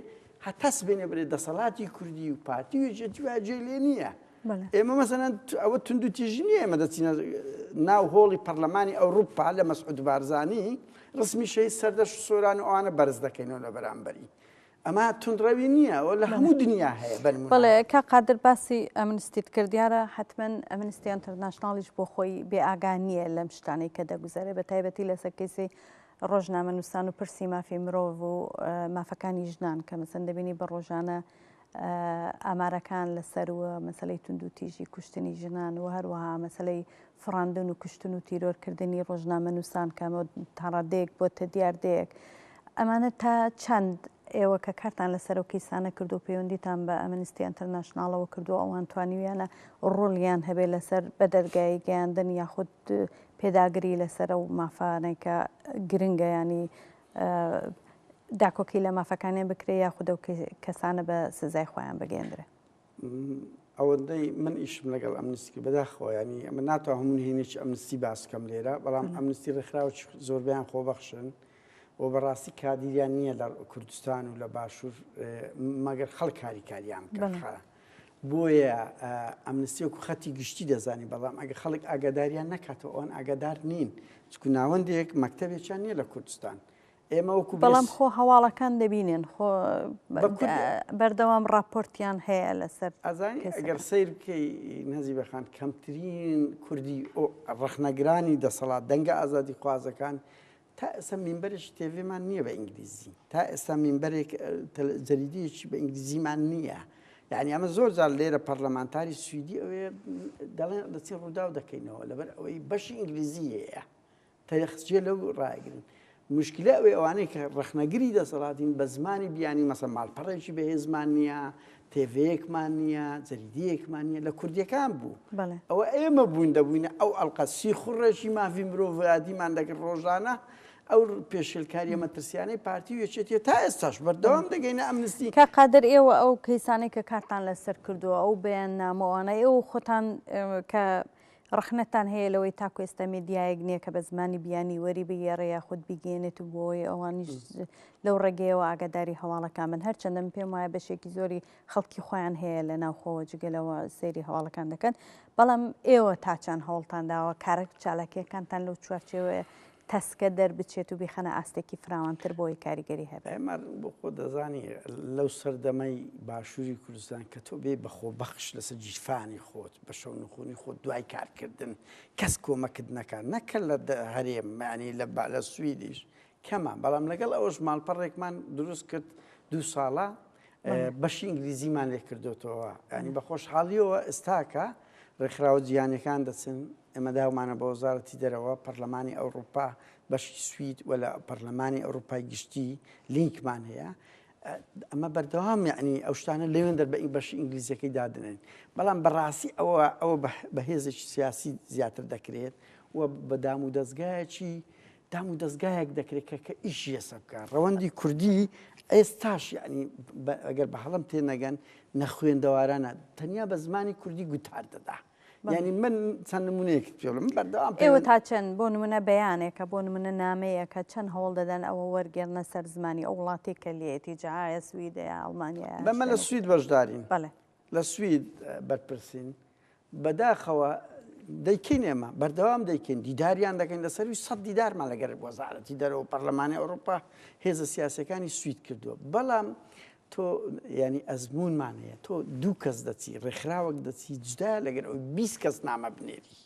هەتا سبەینێ بڵێ دەسەڵاتی کوردی و پارتی و یەکێتی و جێ لێ نییە بەڵێ. ئێمە مەسەن ئەوە تونند و تیژی نییە ئێمە دەچینە ناو هۆڵی پەرلەمانی ئەوروپا لە مەسعود بارزانی ڕسمی شەی سەردەش و سۆران و ئەوانە بەرز دەکەینەوە لە بەرامبەری ئەمە تونڕەوی نییە ئەوە لە هەموو دنیا هەیە بەن بەڵێ کا قادر باسی ئەمنستیت کرد دیارە حتمما ئەمنستی ئەنتەرناشناڵیش بۆ خۆی بێ ئاگا نییە لەم شتانەی کە دەگوزارێ بە تایبەتی لەسەر کەیسی ڕۆژنامەنووسان و پرسی مافی مرۆڤ و مافەکانی ژنان کە مەسەن دەبینی بە ڕۆژانە ئامارەکان لەسەر و مەسلەی تونند و تیژی کوشتنی ژنان و هەروەها مەسلەی فڕاندن و کوشتن و تیرۆرکردنی ڕۆژنامەنووسان کە تاڕادەیەک بۆتە دیاردەیەک ئەمانە تا چەند ئێوە کە کارتان لەسەر ئەو کەیسانە کردووە پەیوەندیتان بە ئەمنستی ئەنتەرناشناڵەوە کردووە ئەوان توانیویانە ڕۆڵیان هەبێت لەسەر بە دەرگایی گەیاندن یاخود پێداگری لەسەر ئەو مافانەی کە گرنگە ینی داکۆکی لە مافەکانیان بکرێت یاخود ئەو کەسانە بە سزای خۆیان بگەێندرێت؟ ئەوەندەی من ئیشم لەگەڵ ئەمنستی کرد بەداخەوە ینی ئەمە ناتوان هەموو نهێنێکی ئەمنستی باسکەم لێرە بەڵام ئەمنستی ڕێکخراوە زۆربیان خۆبەخشن و بەڕاستی کادیریان نییە لە کوردستان و لە باشوور مەگەر خەڵک کاریکاریان بکە بۆیە ئەمنستی وکو خەتی گشتی دەزانی بەڵام ئەگە خەڵک ئاگاداریان نەکاتەوە ئەوان ئاگادار نین چکو ناوەندێک مەکتتەبێکیان نییە لە کوردستان ئێمە وەکو بەڵام خۆ هەواڵەکان دەبینێن خۆ بەردەوام ڕاپۆرتیان هەیە لەسەر ئەزانی ئەگەر سیر بکەی نەزی بەخان کەمترین کوردی ڕخنەگرانی دەسەڵات دەنگە ئازادی خوازەکان تا ئێستا مینبەرش تێڤێمان نییە بە ئینگلیزی تا ئێستا مینبەرێک جەریدەیەکی بە ئینگلیزیمان نییە یعنی ئەمە زۆر جار لێرە پەرلەمانتاری سوئدی ئەوێ دەڵێن دەچین ڕووداو دەکەینەوە لەبەر ئەوەی بەشی ئینگلیزی هەیە تەخت جێ لەو ڕایگرن. مشکلە ئەوەی ئەوانەی کە ڕەخنەگری دەسەڵاتین بە زمانی بیانی مەسە ماڵپەڕێکی بەهێزمان نییە تێڤەیەکمان نییە جەریدەیەکمان نیە لە کوردیەکان بوو ئەوە ئێمە بوون دەبووینە ئەو ئەلقەسی خوڕێکی مافی مرۆڤادیمان دەکرد ڕۆژانە ئەو پێشلکاری مەترسیانەی پارتی وێچێتە تا ئێستاش بەردەوام دەگەینە ئەمنستی کە قادر ئێوە ئەو کەیسانەی کە کارتان لەسەر کردووە ئەو بەیان نامەوانە ئێوە خۆتان کە ڕەخنەتان هەیە لەوەی تاکو ئێستا میدیایەک نیە کە بە زمانی بیانی وەری بگێڕێ یاخود بیگەیەنێت و بۆی ئەوانیش لەو ڕێگەیەوە ئاگاداری هەواڵەکان بن هەرچەندە من پێم وایە بەشێکی زۆری خەڵکی خۆیان هەیە لە ناوخۆوە جگەلەوە سەیری هەواڵەکان دەکەن بەڵام ئێوە تاچان هەوڵتان داوە کارە چالاکیەکانتان لەو چوارچێوەیە تەسکە دەربچێت و بیخەنە ئاستێکی فراوانتر بۆی کاریگەری هەبێت. ئەمەر بۆ خۆ دەزانی لەو سەردەمەی باشووری کوردستان کە تۆ بێ بەخۆ بەخش لەسەر گیرفانی خۆت بە شەو نخونی خۆت دوای کارکردن کەس کۆمەکت نەکات نەکە لە هەرێم مەعنی لە با لە سویدیش کەمە بەڵام لەگەڵ ئەوەش ماڵپەڕێکمان دروست کرد دوو ساڵە بەشی ئینگلیزیمان لێ کردوتەوە ینی بە خۆشحاڵیەوە ئێستاکە ڕێکخراوە جیانەکان دەچن ئێمە داومانە بە وەزارەتی دەرەوە، پەرلەمانی ئەوڕوپا، بەشی سوید و لە پەرلەمانی ئەوڕوپای گشتی لینکمان هەیە. ئەمە بەردەوام یعنی ئەو شتانە لەوێن دەر بە ئی بەشی ئینگلیزیەکەی دادنێن بەڵام بەڕاستی ئەوە ئەوە بە هێزێکی سیاسی زیاتر دەکرێت و بە دام و دەستگایەکی دام و دەستگایەک دەکرێت کە کە ئیشی ئێسە بکە ڕەوەندی کوردی ئێستاش یعنی ئەگەر بە هەڵم تێ نەگەن نەخوێندەوارانە تەنیا بە زمانی کوردی گوتار دەدا ینی من چەند نمونەیەکت پێڵم بەردەوام ئێوە تا چەند بۆ نمونە بەیانێکە بۆ نمونە نامەیەکە چەند هەوڵ دەدەن ئەوە وەرگێرنە سەر زمانی ئەو وڵاتی کە لێتی جاە سویدەیە ئەڵمانیا بەمە لە سوید بەشدارین بەڵێ لە سوید بەرپرسین بەداخەوە دەیکەین ئێمە بەردەوام دەیکەین دیداریان دەکەین لە سەروی سە دیدارمان لەگەر وەزارەتی دەرەوە پەرلەمانی ئەوروپا هێزە سیاسەکانی سوید کردووە بەڵام تۆ یانی ئەزموونمان هەیە تۆ دوو کەس دەچی ڕێکخراوەک دەچی جدا لەگەر ئەو بیست کەس نامە بنێری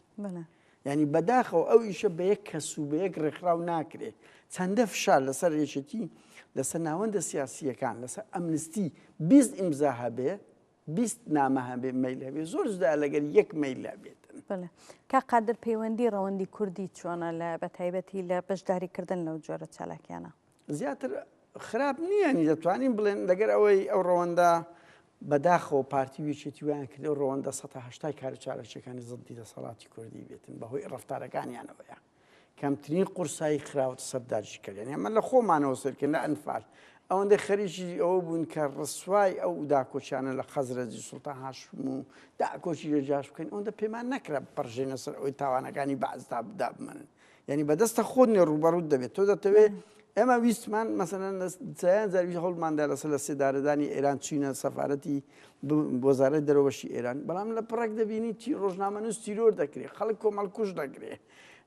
ینی بەداخەوە ئەو ئیشە بە یەک کەس و بە یەک ڕێکخراو ناکرێ چەندە فشار لەسەر یەکێتی لەسەر ناوەندە سیاسیەکان لەسەر ئەمنستی بیست ئیمزا هەبێ بیست نامە هەبێ مەیل هەبێ زۆر جدا لەگەر یەک مەیل لەبێت بڵێ کا قادر پەیوەندی ڕەوەندی کوردی چۆنە لە بە تایبەتی لە بەشداریکردن لەو جۆرە چالاکیانە زیاتر خراپ نییە یانی دەتوانین بڵێن لەگەر ئەوەی ئەو ڕەوەندە بەداخەوە پارتی وێچێتی ویان کرد و ڕەوەندە 1970 کار و چارەشەکانی زدی دەسەڵاتی کوردی بێتن بەهۆی ڕفتارەکانیانەوەیە کەمترین قورسایی خراوەت سەرداجی کردن ئەمە لە خۆمانەوە سەرکرد لە ئەنفال ئەوەندەی خەریکی ئەوە بوون کە ڕسوای ئەو داکۆچیانە لە خەزرەجی سوڵتان هاشم و داکۆچی لە جاش بکەن ئەوەندە پێمان نەکرا بپەڕژێنە سەر ئەوی تاوانەکانی بەعزدا بدا بمەنن یانی بەدەستە خۆت نێ ڕووبەڕووت دەبێت تۆ دەتەوێ ئێمە ویستمان مەسەن سیان زەروی هەڵماندا لەسەر لە سێدارەدانی ئێران چینە سەفاەتی بۆزارە دەرەوەشی ئێران بەڵام لە پڕک دەبینی چی ڕۆژنامەنووس تیرۆر دەکرێت خەڵک کۆمەڵکوش دەگرێ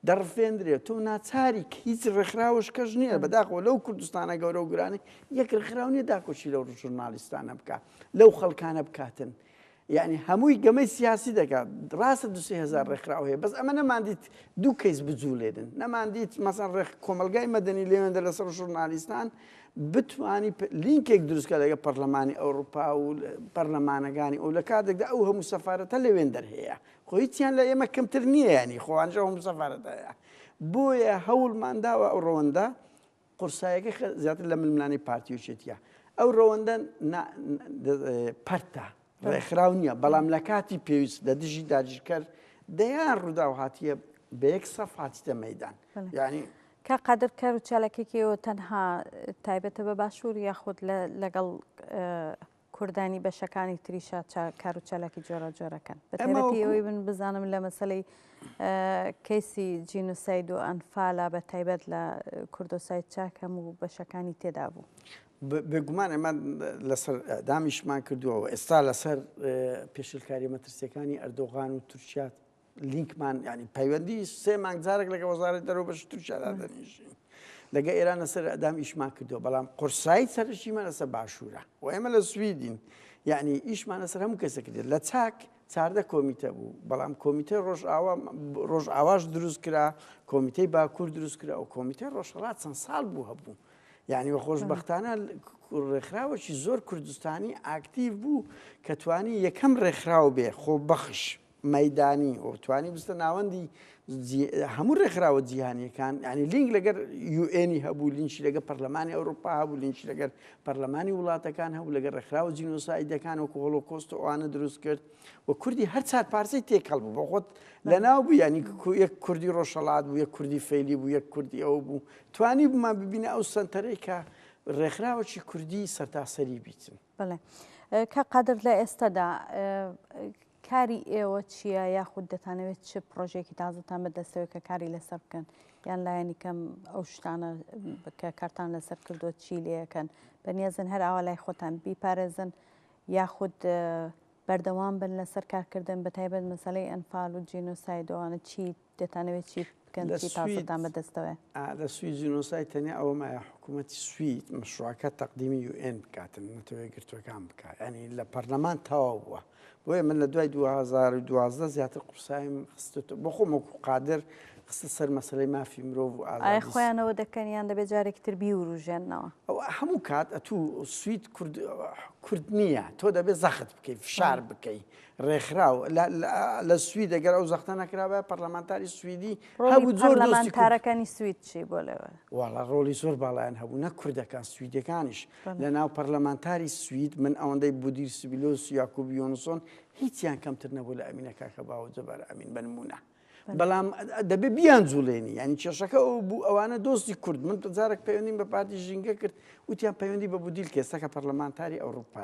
دەڕفێندرێت تۆ ناچاری هیچ ڕێکخراوش کەش نییە بەداخۆ لەو کوردستانە گەورە و گرانی یەک ڕێکخراو نیە داکۆشی لەو ژورنالیستانە بکە لەو خەڵکانە بکاتن یەعنی هەمووی گەمەی سیاسی دەکات ڕاستە دو سێ هەزار ڕێکخراو هەیە بەس ئەمە نەماندیت دوو کەیس بجوولێنن نەماندیت مەسەن ڕێک کۆمەلگای مەدەنی لێوێندە لەسەر ژورنالیستان بتانی لینکێک دروستکە لەگە پەرلەمانی ئەوروپا و پەرلەمانەکانی ئەو لە کاتێکدا ئەو هەموو سەفاەتە لەوێن دەرهەیە خۆیتیان لە ئێمە کەمتر نییە ینی خۆوانژە هەموو سەفاەتەیە بۆیە هەوڵمان داوە ئەو ڕەوەندە قورسایەکەی خە زیاتر لە ململانێی پارتی و یەکێتییە. ئەو ڕەوەندە نا دە پەرتە، ڕێکخراو نییە، بەڵام لە کاتی پێویست لە دژی داگیرکەر دەیان ڕووداو هاتییە بە یەک سەف هاتیتە مەیدان. یانی. کاک قادر کار و چالاکیەکی ئێوە تەنها تایبەتە بە باشوور یاخود لە لەگەڵ کوردانی بەشەکانی تریشا چا کار و چالاکی جۆرا جۆرەکەن بە ئێمە تایبەتی وەکو ئەوەی من بزانم لە مەسەلەی ئە کەیسی جینوساید و ئەنفالا بە تایبەت لە کوردۆساید چاک هەموو بەشەکانی تێدا بوو. ب بێ گومان ئێمە لەسەر ئیعدامیشمان کردووە و ئێستا لەسەر ئێ پێشێلکاریە مەترسیەکانی ئەردۆغان و تورکیا لینکمان ینی پەیوەندی سێ مانگ جارێک لەگە وەزارەت دەرەوە بەش تورکیادا دەنیشین لەگە ئێران لەسەر ئەدام ئیشمان کردو بەڵام قورسایی سەرشیمان لەسەر باشوورە و ئێمە لە سویدین یعنی ئیشمان لەسەر هەموو کەسە کرێت لە چاک چاردە کۆمیتە بوو بەڵام کۆمیتە ڕۆژئاوا ڕۆژ ئاواش دروست کرا کۆمیتەی باکوور دروست کرا و کۆمیتە ڕۆژهڵات چەند ساڵ بوو هەبوو یعنی وە خۆشببختانە ڕێکخراوەکی زۆر کوردستانی ئاکتیو بوو کە توانی یەکەم ڕێکخراو بێ خۆ بەخش مەیدانی و توانی بستە ناوەندی هەموو ڕێکخراوە جیهانیەکان ینی لینک لەگەر یوئنی هەبوو لینشی لەگە پەرلەمانی ئەوروپا هەبوو لینشی لەگەر پەرلەمانی وڵاتەکان هەبوو لەگەر ڕێکخراوە جینۆسایدەکان و کۆڵۆ کۆست و ئەوانە دروست کرد و کوردی هەر چار پارسی تێکەڵ بوو بۆ خۆت لە ناو بوو ینی یەک کوردی ڕۆژەڵات بوو یەک کوردی فەیلی بوو یەک کوردی ئەو بوو توانی بمان ببینە ئەو سنتەرێکە ڕێکخراوەی کوردی سەرتاسەری بیتن بەڵێ. کاک قادر لە ئێستادا کاری ئێوە چییە یاخود دەتانەوێت چ پرۆژێکی تازەتان بەدەستەوە کە کاری لەسەر بکەن یان لایەنی کەم ئەو شتانە کە کارتان لەسەر کردو چی لەکەن بەنیازن هەر ئاوا لای خۆتان بیپارێزن یاخود بەردەوام بن لەسەر کارکردن بە تایبەت مەسلەی ئەنفال و جینۆسایدۆوانە چیت دەتانەوێت چی بکەن لە چی سوید پاسەتان بەدەستەوەیە ئا لە سوید جینۆساید تەنیا ئەوە مایە حکوومەتی سوید مەشروعەکە تەقدیمی یو ئێن بکاتن نەتەوە یەکگرتووەکان بکا یانی لە پەرلەمان تەواو بووە بۆیە من لە دوای 2012 زیاتر قورسایم خستۆتە بۆ خۆم وەکو قادر خستە سەر مەسەلەی مافی مرۆڤ و ئایا ئازادی خۆیانەوە دەکەن یان دەبێت جارێکی تر بیوروژێننەوە ئەو هەموو کات ئەتوو سوید کورد کورد نییە تۆ دەبێت زەخت بکەی فشار بکەی ڕێکخراو لە سوید دەگەر ئەو زەختە نەکرابە پەرلەمانتاری سویدی هەبوو زۆر پەرلەمانتارەکانی سوید چی بۆ لەوە وڵا ڕۆڵی زۆر باڵیان هەبوو نە کوردەکان سویدەکانیش لە ناو پەرلەمانتاری سوید من ئەوەندەی بودیر سبیلۆس یاکوب یۆنسۆن هیچیان کەمتر نەبوو لە ئەمینەکە کە باوە جەبار ئەمین بنمونە بەڵام دەبێ بیان جوڵێنی ینی کێشەکە ئەو بوو ئەوانە دۆستی کورد من جارێک پەیوەندیم بە پارتی ژینگە کرد وتیان پەیوەندی بە بودیل کێسەکە پەرلەمانتاری ئەوروپا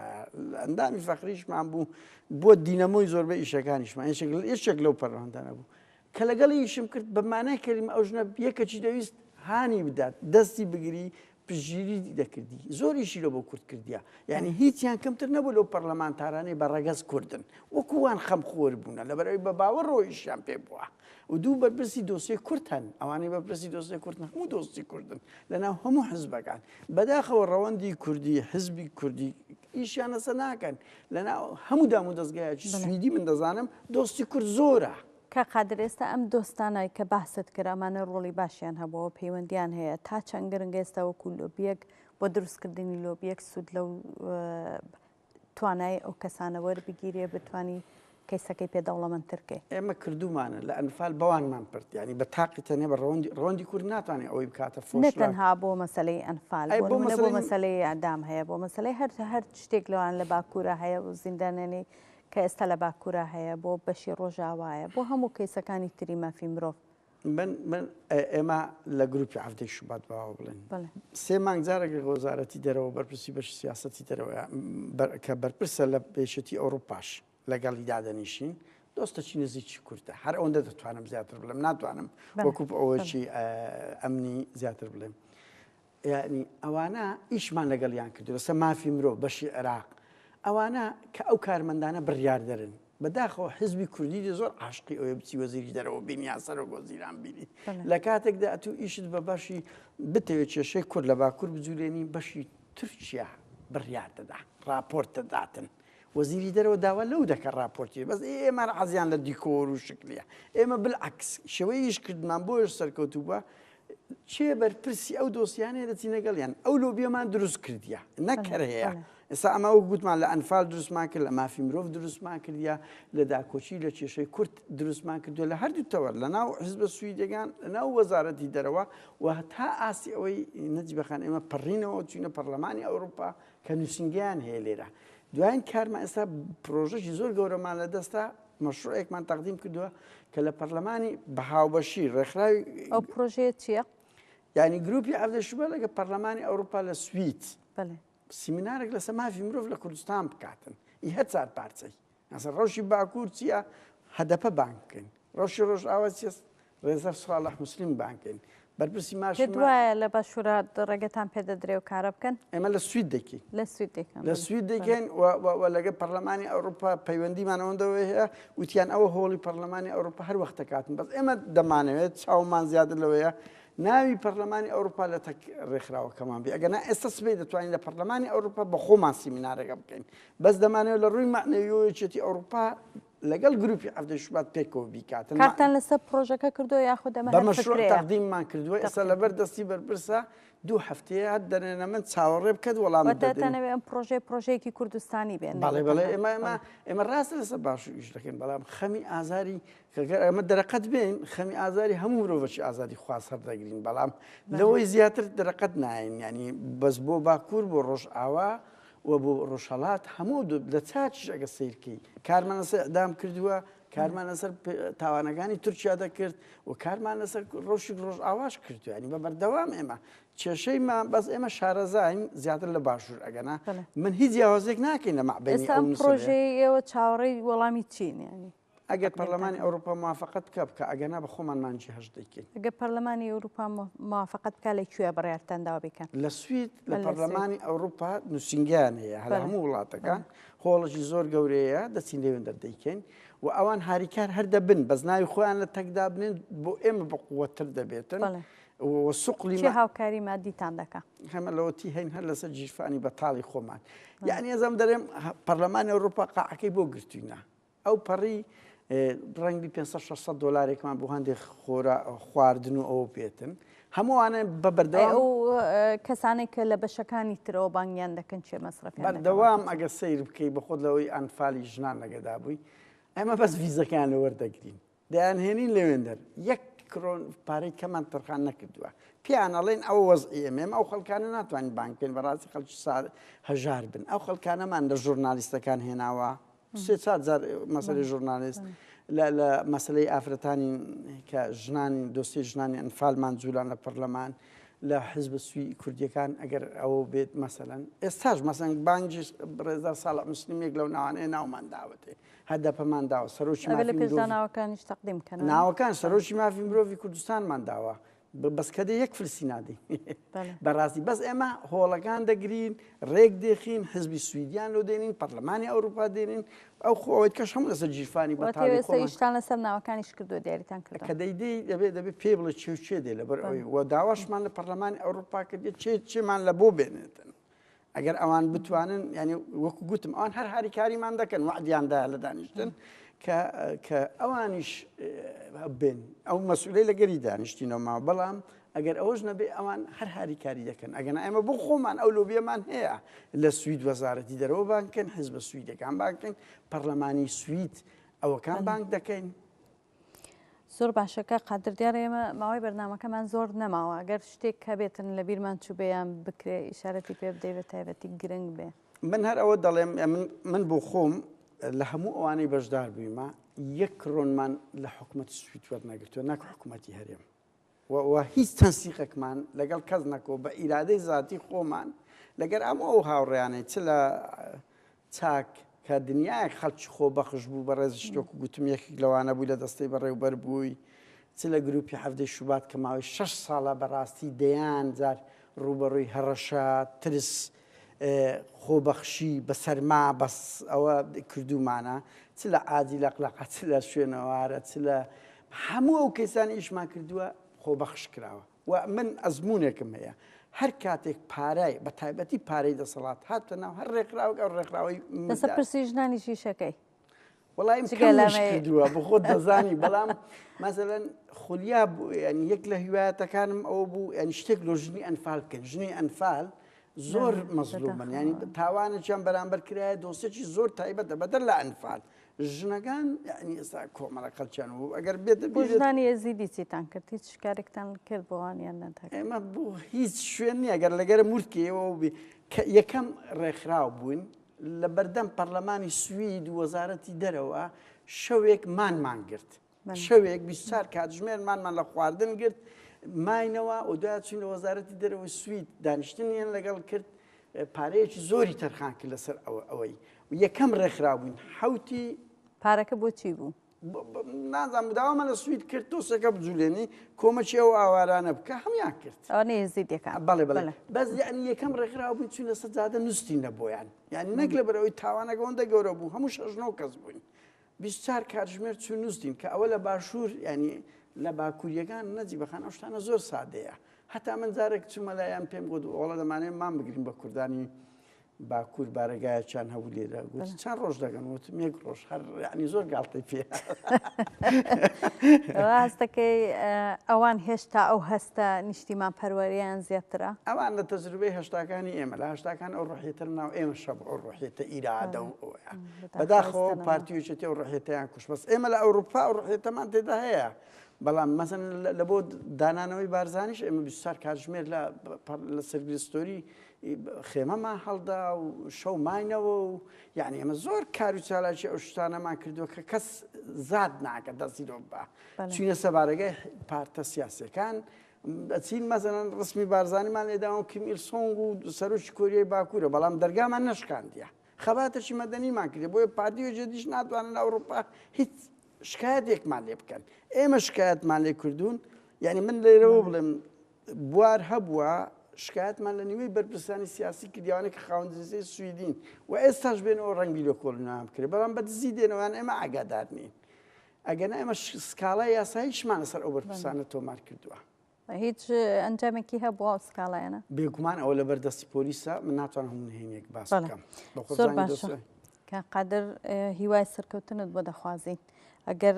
ئەندامی فەقریشمان بوو بۆ دینەمۆی زۆربە ئیشەکانیشمان یەکێک لەو پەرلەمانتانە بوو کە لەگەڵ یشم کرد بەمانای کردیم ئەو ژنە یەکەچی دەویست هانی بدات دەستی بگری پشتگیری دەکردی زۆریشی لۆ بۆ کورد کردیا یعنی هیچیان کەمتر نەبوو لەو پەرلەمانتارانەی بە ڕەگەز کوردن وەکووان خەم خۆر بوونە لەبەرەوەی بە باوە ڕۆیشیان پێ بووە و دوو بەرپرسی دۆسیێ کورت هەن ئەوانەی بەپرسی دۆسیێ کورت هەموو دۆستی کوردن لەناو هەموو حزبەکان بەداخەوە ڕەوەندی کوردی حزبی کوردی ئیشیانەسە ناکەن لەناو هەموو دام و دەستگایەکی سویدی من دەزانم دۆستی کورد زۆرە کاک قادر ئێستا ئەم دۆستانەی کە باست کرد ئەمانە ڕۆڵی باشیان هەبووە و پەیوەندیان هەیە تا چەند گرنگە ئێستا وەکو لۆبیەک بۆ دروستکردنی لۆبیەک سوود لەو توانای ئەو کەسانە وەربگیرێ بتانی کەیسەکەی پێ دەوڵەمەندتر کەی. ئێمە کردوومانە لە ئەنفال بەوانمان پرد یانی بە تاقی تەنێ بە ڕەوەندی ڕەوەندی کورد ناتوانێ ئەوەی بکاتە فۆش نە تەنها بۆ مەسەلەی ئەنفال ئەی بۆ بۆ مەسەلەی مەسەلەی ئیعدام هەیە بۆ مەسەلەی هەر هەر شتێک لەوان لە باکوورە هەیە و زیندانیانی کە ئێستا لە باکورا هەیە بۆ بەشی ڕۆژاوایە بۆ هەموو کەیسەکانی تری مافی مرۆڤ. من من ئێمە لە گروپی عەڤدەی شوبات باوە بڵێن سێ مانگ جارێک لەگە وەزارەتی دەرەوە بەرپرسی بەشی سیاسەتی دەرەوە کە بەرپرسە لە پێشەتی ئەوروپاش لەگەڵی دادەنیشین دۆستەچی نزیکی کوردە هەر ئەوەندە دەتوانم زیاتر بڵێم ناتوانم وەکوب ئەوەشی ئەمنی زیاتر بڵێم یەعنی ئەوانە ئیشمان لەگەڵیان کردووە لەسەر مافی مرۆڤ بەشی عێراق ئەوانە کە ئەو کارمەندانە بڕیاردەرن بەداخەوە حزبی کوردی دێ زۆر عاشقی ئەوێ بچی وەزیری دەرەوە بین یان سەرۆک وەزیران بینی لە کاتێکدا ئەتوو ئیشت بە بەشی بتەوێت کێشەی کورد لە باکوور بجوولێنی بەشی تورکیا بڕیار دەدا ڕاپۆرت دەداتن وەزیری دەرەوە داوا لەو دەکە ڕاپۆرتی بەس ئێمە عزیان لە دیکۆر و شکلیە ئێمە بالعکس شێوەی ئیش کردمان بۆش سەرکەوتوبە کێ بەرپرسی ئەو دۆسیانەیە دەچی نەگەڵیان ئەو لۆبیەمان دروست کردیە نەکەر هەیە ئێستا ئەمە وەک گوتمان لە ئەنفال دروستمان کرد لە مافی مرۆڤ دروستمان کردیا لە داکۆچی لە کێشەی کورت دروستمان کردو لە هەردوو تەوەر لە ناو حزبە سویدەگان لە ناو وەزارەتی دەرەوە و هەتا ئاستی ئەوەی نەجیبەخان ئێمە پەڕینەوە چوینە پەرلەمانی ئەوروپا کە نووسنگیان هەیە لێرە دوایین کارمە ئێستا پرۆژەی زۆر گەورەمان لە دەستا مەشروعێکمان تەقدیم کردووە کە لە پەرلەمانی بە هاوبەشی ڕێکخراوی ئەو پرۆژەیە چییە؟ یعنی گروپی عەبدە شوبە لەگە پەرلەمانی ئەوروپا لە سوید سیمینارێک لەسە مافی مرۆڤ لە کوردستان بکاتن ئی هەر چار پارچەی ئەسە ڕەوشی باکوور چییە هەدەپە بانکەین ڕەوشی ڕۆژ ئاوا چێست ڕێزدار ساڵح موسلیم بانکەین بەرپرسی ماش پێت وایە لە باشوورە ڕێگەتان پێ دەدرێ و کارە بکەن ئێمە لە سوید دەکەین لە سوید دەکەن لە سوید دەکەین و لەگە پەرلەمانی ئەوروپا پەیوەندیمان ئەوەندەوە هەیە وتیان ئەوە هۆڵی پەرلەمانی ئەوروپا هەر وەختە کاتن بەس ئێمە دەمانەوێت چاومان زیادر لەوەیە ناوی پەرلەمانی ئەوروپا لە تەک ڕێکخراوەکەمان بێ ئەگەنا ئێستا سبەی دەتوانین لە پەرلەمانی ئەوروپا بە خۆمان سیمینارەکە بکەین بەس دەمانەوە لە ڕووی معنەویەوەیەتی ئەوروپا لەگەڵ گروپی هەفتەی شوبات پێکەوە بیکاتن کارتان لەسەر پرۆژەکە کردو یاخود ئەمە بەمە تەقدیممان کردووە ئێستا لەبەر دەستی بەرپرسە دوو هەفتەیە هەر دەنێنە من چاوەڕێ بکەت وەڵام دەتەنەوێ ئەم پرۆژەی پرۆژەیەکی کوردستانی بێن بەڵێ بەڵێ ئێمە ئێمە ئێمە ڕاست لەسەر باش ئیش دەکەین بەڵام خەمی ئازاری کەگەر ئەمە دەرەقەت بێن خەمی ئازاری هەموو مرۆڤەکی ئازادی خواست هەر دەگرین بەڵام لەوەی زیاتر دەرەقەت ناین ینی بەس بۆ باکوور بۆ ڕۆژ ئاوا وە بۆ ڕۆژهەڵات هەموو دوو لە چاکیش ئەگە سیرکەی کارمان لەسەر ئەدام کردووە کارمان لەسەر تاوانەکانی تورکیا دەکرد و کارمان لەسەر ڕۆژی ڕۆژ ئاواش کردویانی بە بەردەوام ئێمە کێشەیمان بەس ئێمە شارەزاین زیاتر لە باشوور ئەگەنا من هیچ جیاوازێک ناکەین لە مەعبێن پرۆژەی ئێوە چاوەڕێی وەڵامی چینیانی ئەگەر پەرلەمانی ئەوروپا موافەقەت بکا بکا ئەگەنا بە خۆمان مانجی هەشت دەیکەین. ئەگەر پەرلەمانی ئەوروپا موافەقەت بکا لە کوێ بڕیارتان داوە بیکەن؟ لە سوید لە پەرلەمانی ئەوروپا نووسینگەیان هەیە هەر هەموو وڵاتەکان هۆڵێکی زۆر گەورەیە دەچین لێوێن دەردەیکەین و ئەوان هاریکار هەر دەبن بەس ناوی خۆیان لە تەکدا بنێن بۆ ئێمە بە قووەتر دەبێتن. سوقلی هاوکاری مادیتان دەکە هەمە لەوەتی هەین هەر لەسەر جیرفانی بەتاڵی خۆمان یعنی ئەزم دەرێم پەرلەمانی ئەوروپا قاعەکەی بۆ گرتوینە ئەو پەڕی ڕەنگبی پێنج سەد شەش سەد دۆلارێکمان بۆ هەندێک خۆرا خواردن و ئەوە بێتن هەمووانە بە بەردەوام ئەی ئەو اه، کەسانێک کە لە بەشەکانی ترەوە بانگیان دەکەن چێ مەسرەفیان دەکەن بەردەوام واتە چی؟ ئەگە سیر بکەی بە خۆت لەوەی ئەنفالی ژنان لەگەدا بووی ئەمە بەس ڤیزەکان لە وەردەگرین دەیانهێنین لەوێندەر یەک کرۆن پارەی کەمان تەرخان نەکردووە پێیان ئەڵێن ئەوە وەزعی ئێمێم ئەو خەڵکانە ناتوانین بانک بکەین بەڕاستی خەڵکی سار هەژار بن ئەو خەڵکانەمان لە ژورنالیستەکان هێناوە سێ چار جار مەسەری ژورنالیست لە لە مەسلەی ئافرەتانی کە ژنانی دۆستی ژنانی ئەنفالمان جوولان لە پەرلەمان لە حزب سوی کوردیەکان ئەگەر ئەوە بێت مەسەن ئێستاش مەسەنگ بانجی ڕێزدار ساڵە مسللیمێک لەو ناوانەیە ناومان داوەتێ هەدەپەمان داوە، سەرۆکی مافی مرۆڤی کوردستانمان داوە، ئەبێ لە پێش دا ناوەکانیش تەقدیم کەن. ناوەکان، سەرۆکی مافی مرۆڤی کوردستانمان داوە، بەس کە دێ یەک فلسی نادەین. بە ڕاستی بەس ئێمە هۆڵەکان دەگرین، ڕێک دێخین، حزبی سویدیان لۆ دێنین، پەڕلەمانی ئەوروپا دێنین، ئەو خۆ ئەوەی کەش هەموو لەسەر گیرفانی بەتاڵی خۆمان. واتە ئێستا ئیشتان لەسەر ناوەکانیش کردووە، دیاریتان کردووە. کە دەی دێی دەبێ دەبێ پێی بڵێ کێ و کێ دێ لەبەر ئەوەی و داواشمان لە پەڕلەمانی ئەوروپا کردیە کێ کێمان لە بۆ بێنێتن. ئەگەر ئەوان بتوانن یعنی وەکو گوتم ئەوان هەر هاریکاریمان دەکەن وعدیاندا لە دانیشتن کە ئەوانیش بێن ئەو مەسولەی لەگەری دانیشتینەوەما بەڵام ئەگەر ئەوەش نەبێ ئەوان هەر هاریکاری دەکەن ئەگەن ئەمە بۆ خۆمان ئەو لۆبیەمان هەیە لە سوید وەزارەتی دەرەوە بانکن حزب سویدەکان بانکن پەرلەمانی سوید ئەوەکان بانک دەکەین زۆر باشە کاک قادر دیارە ئێمە ماوەی بەرنامەکەمان زۆر نەماوە گەر شتێک هەبێتن لە بیرمان چوبێیان بکرێ ئیشارەتی پێ بدەی بە تایبەتی گرنگ بێ من هەر ئەوە دەڵێم من بۆ خۆم لە هەموو ئەوانەی بەشدار بوویمە یەک کڕۆنمان لە حکومەتی سوید وەرنەگرتووە نەک حکومەتی هەرێم و هیچ تەنسیقێکمان لەگەڵ کەس نەکۆ بە ئیرادەی زاتی خۆمان لەگەر ئەم ئەو هاوڕێیانەی چ لە چاک کە دنیایەک خەڵکی خۆ بەخش بوو بە ڕێزش تۆکو گوتم یەکێک لەوانە بووی لە دەستەی بەڕێوبەر بووی چ لە گروپی حەفدەی شوبات کە ماوەی شەش ساڵە بەڕاستی دەیان جار ڕوبەڕووی هەڕەشە ترس خۆبەخشی بە سەرما بەس ئەوە کردوومانە، چ لە عادی لەقلەقە، چ لە شوێنەوارە، چ لە هەموو ئەو کەیسانە ئیشمان کردووە خۆبەخش کراوە و من ئەزموونێکم هەیە هەر کاتێک پارای بە تایبەتی پارەی دەسەڵات هاتە ناو هەر ڕێکخراوەک ئەو ڕێکخراوەی لەسەر پرسی ژنانیش ئیشەکەی وەڵایم کردووە بخۆت دەزانی بەڵام مەزەن خولیا بوو ینی یەک لە هیوایەتەکانم ئەو بوو ئەنی شتێک لۆ ژنی ئەنفال بکەن ژنی ئەنفال زۆر مەزلومن ینی تاوانێکیان بەرامبەر کرایە دۆسێکی زۆر تایبەتە بەدەر لە ئەنفال ژنەکان ینی ئێستا کۆمەڵە قەلچیان و ئەگەر بێت بۆژدانی ئێزیدی چیتان کرد هیچ شکارێکتان کرد بۆوانیان نەدا ئێمە بۆ هیچ شوێن نیە گەر لەگەر مورکەوە بێ یەکەم ڕێکخراو بووین لە بەردەم پەرلەمانی سوید و وەزارەتی دەرەوە شەوێک مانمان گرت شەوێک بیستار کاتژمێر مانمان لە خواردن گرت ماینەوە و دوای چین لە وەزارەتی دەرەوە سوید دانیشتنیان لەگەڵ کرد پارەیەکی زۆری تەرخان کرد لەسەر ئەوەی یەکەم ڕێکخراوبووین حوتی پارەکە بۆ چی بوو؟ نازان مداوا مەلە سوید کرد تۆسەکە بجولێنی کۆمەکی ئەو ئاوارانە بکە هەمان کرد نێزیدەکان بەڵێ بڵێ بەس یعنی یەکەم ڕێکخراو بووین چوینە سەر جادە نووسین لە بۆیان یعنی نەک لە بەرەوەی تاوانەگەەوەندە گەورە بوو هەموو شەژنەوە کەس بووین بیچار کاتژمێر چوو نووسین کە ئەوە لە باشوور ینی لە باکووریەکان نەجی بەخان ئەو شتانە زۆر سادەیە هەتا من جارێک چوومەلایەن پێم گوت ئۆڵە دەمانێت مان بگرین بە کوردانی باکوور بارەگایەکیان هەبوو لێرە گوتی چەند ڕۆژ دەگەن وتم یەک ڕۆژ هەر ینی زۆر گاڵتەی پێ ڕاستەکەی ئەوان هێشتا ئەو هەستە نیشتیمان پەروەریان زیاترە ئەوان لە تەجروبەی هەشتاکانی ئێمە لە هەشتاکان ئەو ڕحێتر ناو ئێمە شەب ئەو ڕحێتە ئیرادە و بەداخۆ پارتیوچێتی و ڕحێتیان کوش بەس ئێمە لە ئەوروپا و ڕحێتەمان تێدا هەیە بەڵام مەزن لە بۆ دانانەوەی بارزانیش ئێمە بیسار کاتژمێر لە سەرگرستۆری خێمەمان هەڵدا و شەو ماینەوە و یعنی ئەمە زۆر کار و چالاکی ئەو شتانەمان کردووە کە کەس زاد ناکە دەستی دۆ بە چینە سەبارەگەی پارتە سیاسەکان چین مەزەنن ڕسمی بارزانانیمان لێداوە کیم ئیلسۆنگ و سەرۆکی کۆریای باکوورە بەڵام دەرگامان نشکاندە خەباتەشی مەدەنیمان کرد بۆیە پارتی و جدیش ناتوانن ئەوروپا هیچ شکایەتێکمان لێ بکەن ئێمە شکایەتمان لێ کردوون یعنی من لێرەوە بڵێم بوار هەبووە، شکایەتمان لە نیوەی بەرپرسانی سیاسی کردی ئەوانەی کە خاوەن دریسەی سویدین و ئێستاش بێنەوە ڕەنگی لۆ کۆڵینەوەیان بکرێت بەڵام بە دزی دێنەوە یان ئێمە ئاگادار نین ئەگەنا ئێمە سکاڵای یاساییشمان لەسەر ئەو بەرپرسانە تۆمار کردووە. هیچ ئەنجامێکی هەبووە ئەو سکاڵایانە؟ بێگومان ئەوە لەبەر دەستی پۆلیسە، من ناتوانم هەموو نهێنییەک باس بەڵێ. بکەم. بە خۆت زۆر زانی باشە. دەستی کاک قادر، هیوای سەرکەوتنت بۆ دەخوازین. ئەگەر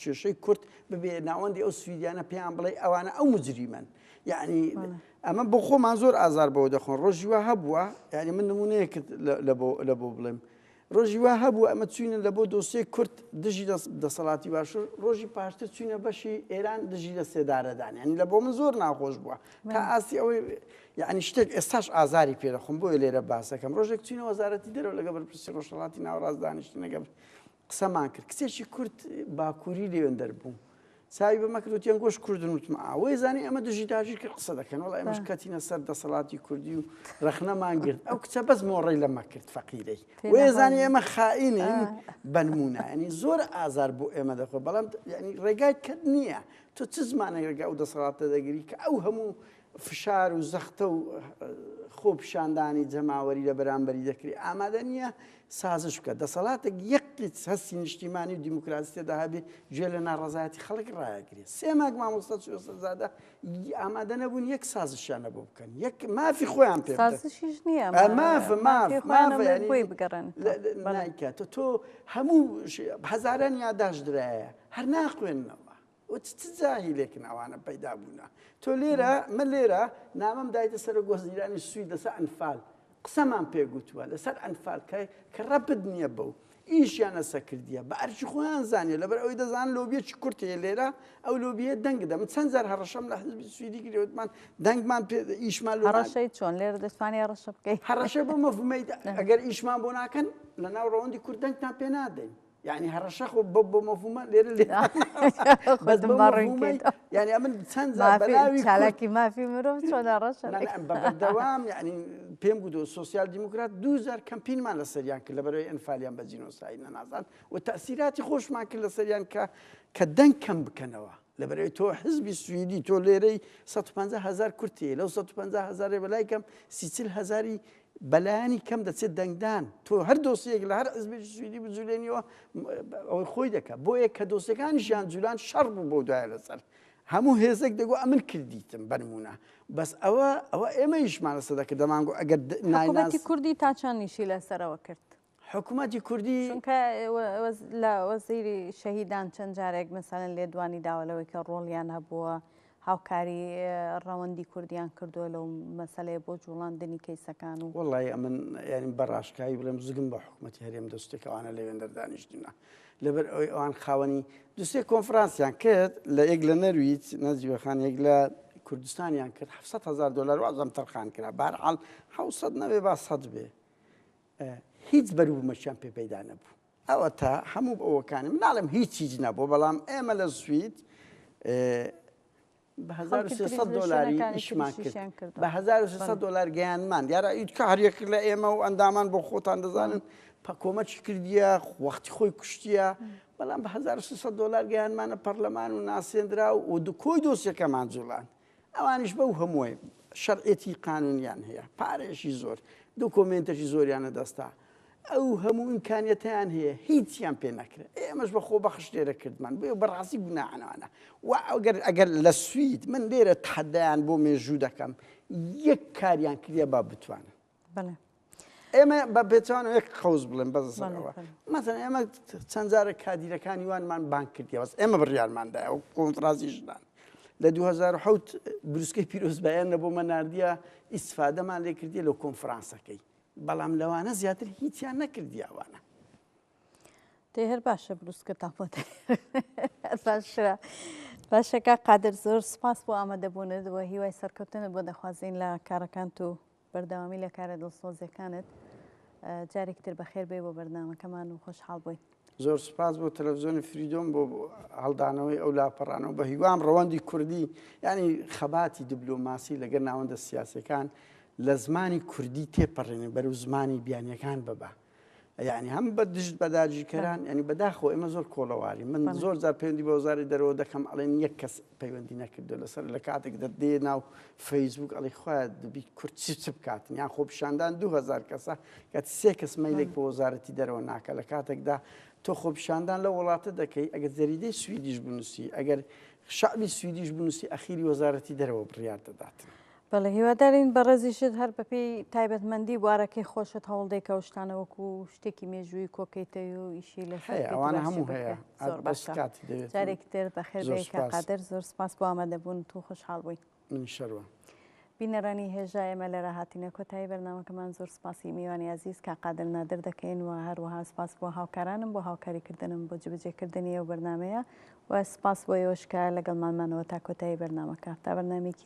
کێشەی کورد ببێ ناوەندی ئەو سویدیانە پێیان بڵێ ئەوانە ئەو مجریمەن یعنی ئەمە بۆ خۆمان زۆر ئازار بەوە دەخۆن ڕۆژی وا هەبووە یعنی من نمونەیەکت لە بۆ بڵێم ڕۆژی وا هەبوو ئەمە چوینە لە بۆ دۆسیە کورت دژی دەسەڵاتی باشوور ڕۆژی پاشتر چوینە بەشی ئێران دژی لە سێدارەدان ینی لە بۆ من زۆر ناخۆش بووە تا ئاستی ئەوەی یعنی شتێک ئێستاش ئازاری پێرەخم بۆی لێرە باسەکەم ڕۆژێک چینە وەزارەتی دەرەوە لەگە بەرپرسی ڕۆژهڵاتی ناوڕاستدانیشتنەگە قسەمان کرد کچێکی کورد باکووری لێوێن دەربوو چاوی بەمە کرد وتیان گۆش کوردن وتم ئاوەی زانانی ئەمە دژی داژیر کرد قسە دەکەن وڵای ئەمەش کەتینە سەر دەسەڵاتی کوردی و ڕەخنەمان گرت ئەو کچە بەس مۆڕی لەمە کرد فەقیرەی وێزانانی ئێمە خائینین بەنمونایانی زۆر ئازار بۆ ئێمە دەخۆ بەڵام ینی ڕێگای کەت نییە تۆ چ زمانێک ڕێگا و دەسەڵاتە دەگری کە ئەو هەموو فشار و زەختە و خۆپیشاندانی جەماوەری لە بەرامبەری دەکرێت، ئامادە نییە سازش بکات. دەسەڵاتێک یەک قیت هەستی نیشتیمانی و دیموکراسی تێدا هەبێت، گوێ لە ناڕەزایەتی خەڵک ڕایەگرێت. سێ مانگ مامۆستا چووسەرزادە ئامادە نەبوون یەک سازشیان لە بۆ بکەن، یەک مافی خۆیان پێ بدەن. سازشیش نییە، ئا مافە، ماف، مافی خۆیان مافە، هەبێت یانی بۆی بگەڕێن. لە، لە، بەڵێ. نایکات. تۆ هەموو ش، هەزاران یاداشت درایە، هەر ناخوێننەوە. و چ چ جاهیلێکن ئەوانە پەیدا بوونە تۆ لێرە من لێرە نامەم دایتە سەرۆک وەزیرانی سوید لەسەر ئەنفال قسەمان پێگوتووە لەسەر ئەنفال کە کە ڕەبت نییە بەو ئیشیان لەسە کردیە بە ئەرکی خۆیان زانیە لەبەر ئەوەی دەزان لۆبیەکی کورت هەیە لێرە ئەو لۆبیە دەنگ دەم چەند جار هەڕەشەم لە حزبی سویدی گرێوتمان دەنگمان پێ ئیشمان لۆ هەڕەشەی چۆن لێر دەتوانێ هەڕەشە بکەیت هەڕەشە بۆ مەفهومەی ئەگەر ئیشمان بۆ ناکەن لە ناو ڕەوەندی کورد دەنگتان پێ نادەین یعنی هەڕەشە خۆ بە بۆ مەفهومە لێرە لێ بەس بە مەفهومە یعنی ئەمن چەند جار مافی بەناوی کورد چالاکی مافی مرۆڤ چۆن هەڕەشە لا لا بەردەوام یعنی پێم گوتو سوسیال دیموکرات دووجار کەمپینمان لەسەریان کرد لەبەرەوەی ئەنفالیان بە جینۆساید نەناسان و تەسیراتی خۆشمان کرد لەسەریان کە کە دەنگ کەم بکەنەوە لەبەرەوەی تۆ حزبی سوئیدی تۆ لێرەی 150 هزار کورتەیە لەو 150 هزارێ بەلای کەم سیچل هزاری بەلایەنی کەم دەچێت دەنگدان تۆ هەر دۆسیەک لە هەر حزبێکی سویدی بجولێنیەوە ئەوەی خۆی دەکە بۆیە کە دۆسیەکانی ژیان جولان شەڕ بوو بۆ دوایە لەسەر هەموو هێزێک دەگو ئەمن کردیتم بەرمونە بەس ئەوە ئەوە ئێمە یشمان لەسەر دەکرد دەمانگو ئەگەر نایناسی کوردی تاچانیشی لەسەرەوە کرد حکومەتی کوردی چونکە لە وەزیری شەهیدان چەند جارێک مەسەلەن لێدوانی داوە لەوەی کە ڕۆڵیان هەبووە هاوکاری ڕەوەندی کوردیان کردووە لەو مەسلەیە بۆ جوڵاندنی کەیسەکان و وڵی ئەمن یعنی بەڕاشکایی بڵێم زگم بە حکوومەتتی هەرێم دەستێکەوانە لە وێندەر دانیشتنە لەبەر ئەوی ئەوان خاوەنی دوستێک کۆنفرانسیان کرد لە یەک لە نەرویت نەجیوەخان یەک لە کوردستانیان کرد 700 هزار دلار وازم تەرخان کرا بارعاال 900 نەوێ با سەد بێ هیچ بەروبومەکیان پێ پەیدا نەبوو. ئەوەتا هەموو ئەوەکانی من ناڵێم هیچ هیچ نەبوو بەڵام ئێمە لە سوید بە 1300 دلاری ئیشمان کرد بە 1300 دلار گەیانمان دیارە ئیت کە هەریەک لە ئێمە و ئەندامان بۆ خۆتان دەزانن پەکۆمەکی کردیە وەختی خۆی کوشتیە بەڵام بە 1300 دلار گەیانمانە پەرلەمان و ناسێنرا و دکۆی دۆسیەکەمان جوڵان ئەوانیش بەو هەمووەی شەرعێتی قانونیان هەیە پارەیەشی زۆر دوو کۆمێنتەشی زۆریانە دەستا ئەو هەموو ئیمکانیەتیان هەیە هیچیان پێ نەکرێت ئێمەش بە خۆ بەخش لێرە کردمان بێ بەڕاستی گوناانەوانە و ئەگەر ئەگەر لە سوید من لێرە تحدایان بۆ مێژوو دەکەم یەک کاریان کردە با بتوانن ئێمە بە پێچوان یەک قوز بڵێن بەزەوە مەزن ئێمە چەند جارە کادیرەکانی وانمان بان کردی بەس ئێمە بڕیارماندا ئەو کۆنفرازی ژنان لە 2010 بروسکەی پیرۆزبایان نە بۆ مەناردە ئیسفادەمان لێ کردی لە کۆنفرانسەکەی بەڵام لەوانە زیاتر هیچیان نەکردیاوانە تێ هەر باشە بروسکە تاپۆ باشرا باشەکە قادر زۆر سپاس بۆ ئامادەبوونەوە هیوای سەرکەوتنە بۆ دەخوازیین لە کارەکان و بەردەوامی لە کارە دڵسۆزەکانت. جارێکی تر بەخێر بێی بۆ بەرنامەکەمان و خۆشحاڵ بووین. زۆر سوپاس بۆ تەلەڤزیۆنی فریدۆم بۆ هەڵدانەوەی ئەو لاپەڕانەوە بە هیوام ڕەوەندی کوردی یعنی خەباتی دبلۆماسی لەگەر ناوەندە سیاسەکان لە زمانی کوردی تێپەڕێنێ بەرەو زمانی بیانیەکان ببا. یعنی هەم بە دژت بە داگیرکەران ینی بەداخەوە ئێمە زۆر کۆڵەواری من زۆر جار پەیوەندی بە وزاری دەرەوە دەکەم ئەڵێن یەک کەس پەیوەندی نەکردو لەسەر لە کاتێک دەدێ ناو فەیسبوک ئەڵی خخوای دەبی کورد چ چ بکات یان خۆ پیشاندان 2000 کەسە کە سێ کەس مەیلێک بە وەزارەتی دەرەوە ناکە لە کاتێکدا تۆ خۆپیشاندان لە وڵاتە دەکەی ئەگەر جەریدەی سویدیش بنووسی ئەگەر شعبی سویدیش بنووسی ئەخیری وەزارەتی دەرەوە بڕیار دەدات. بەڵێ هیوادارین بەڕێزیشت هەر بەپێی تایبەتمەندی بوارەکەی خۆشت هەوڵ دەی کە ئەو شتانە وەکو شتێکی مێژووی کۆکەیتەوی و ئیشی لەسەر هەیە بکەیت ئەوانە هەموو باشتر هەیە بکەیت. زۆر ئەت بەس باشە کاتی دەوێت و جارێکی تر بەخێر زۆر بێی کاک سوپاس قادر زۆر سوپاس بۆ ئامادەبوونت و خۆشحاڵ بووین من شەرمم بینەرانی هێژا ئێمە لێرە هاتینە کۆتایی بەرنامەکەمان زۆر سوپاسی میوانی ئازیز کاک قادر نادر دەکەین و هەروەها سوپاس بۆ هاوکارانم بۆ هاوکاریکردنم بۆ جێبەجێکردنی ئەو بەرنامەیە و سوپاس بۆ ئێوەش کە لەگەڵمان مانەوە تا کۆتایی بەرنامەکە تا بەرنامەیەکی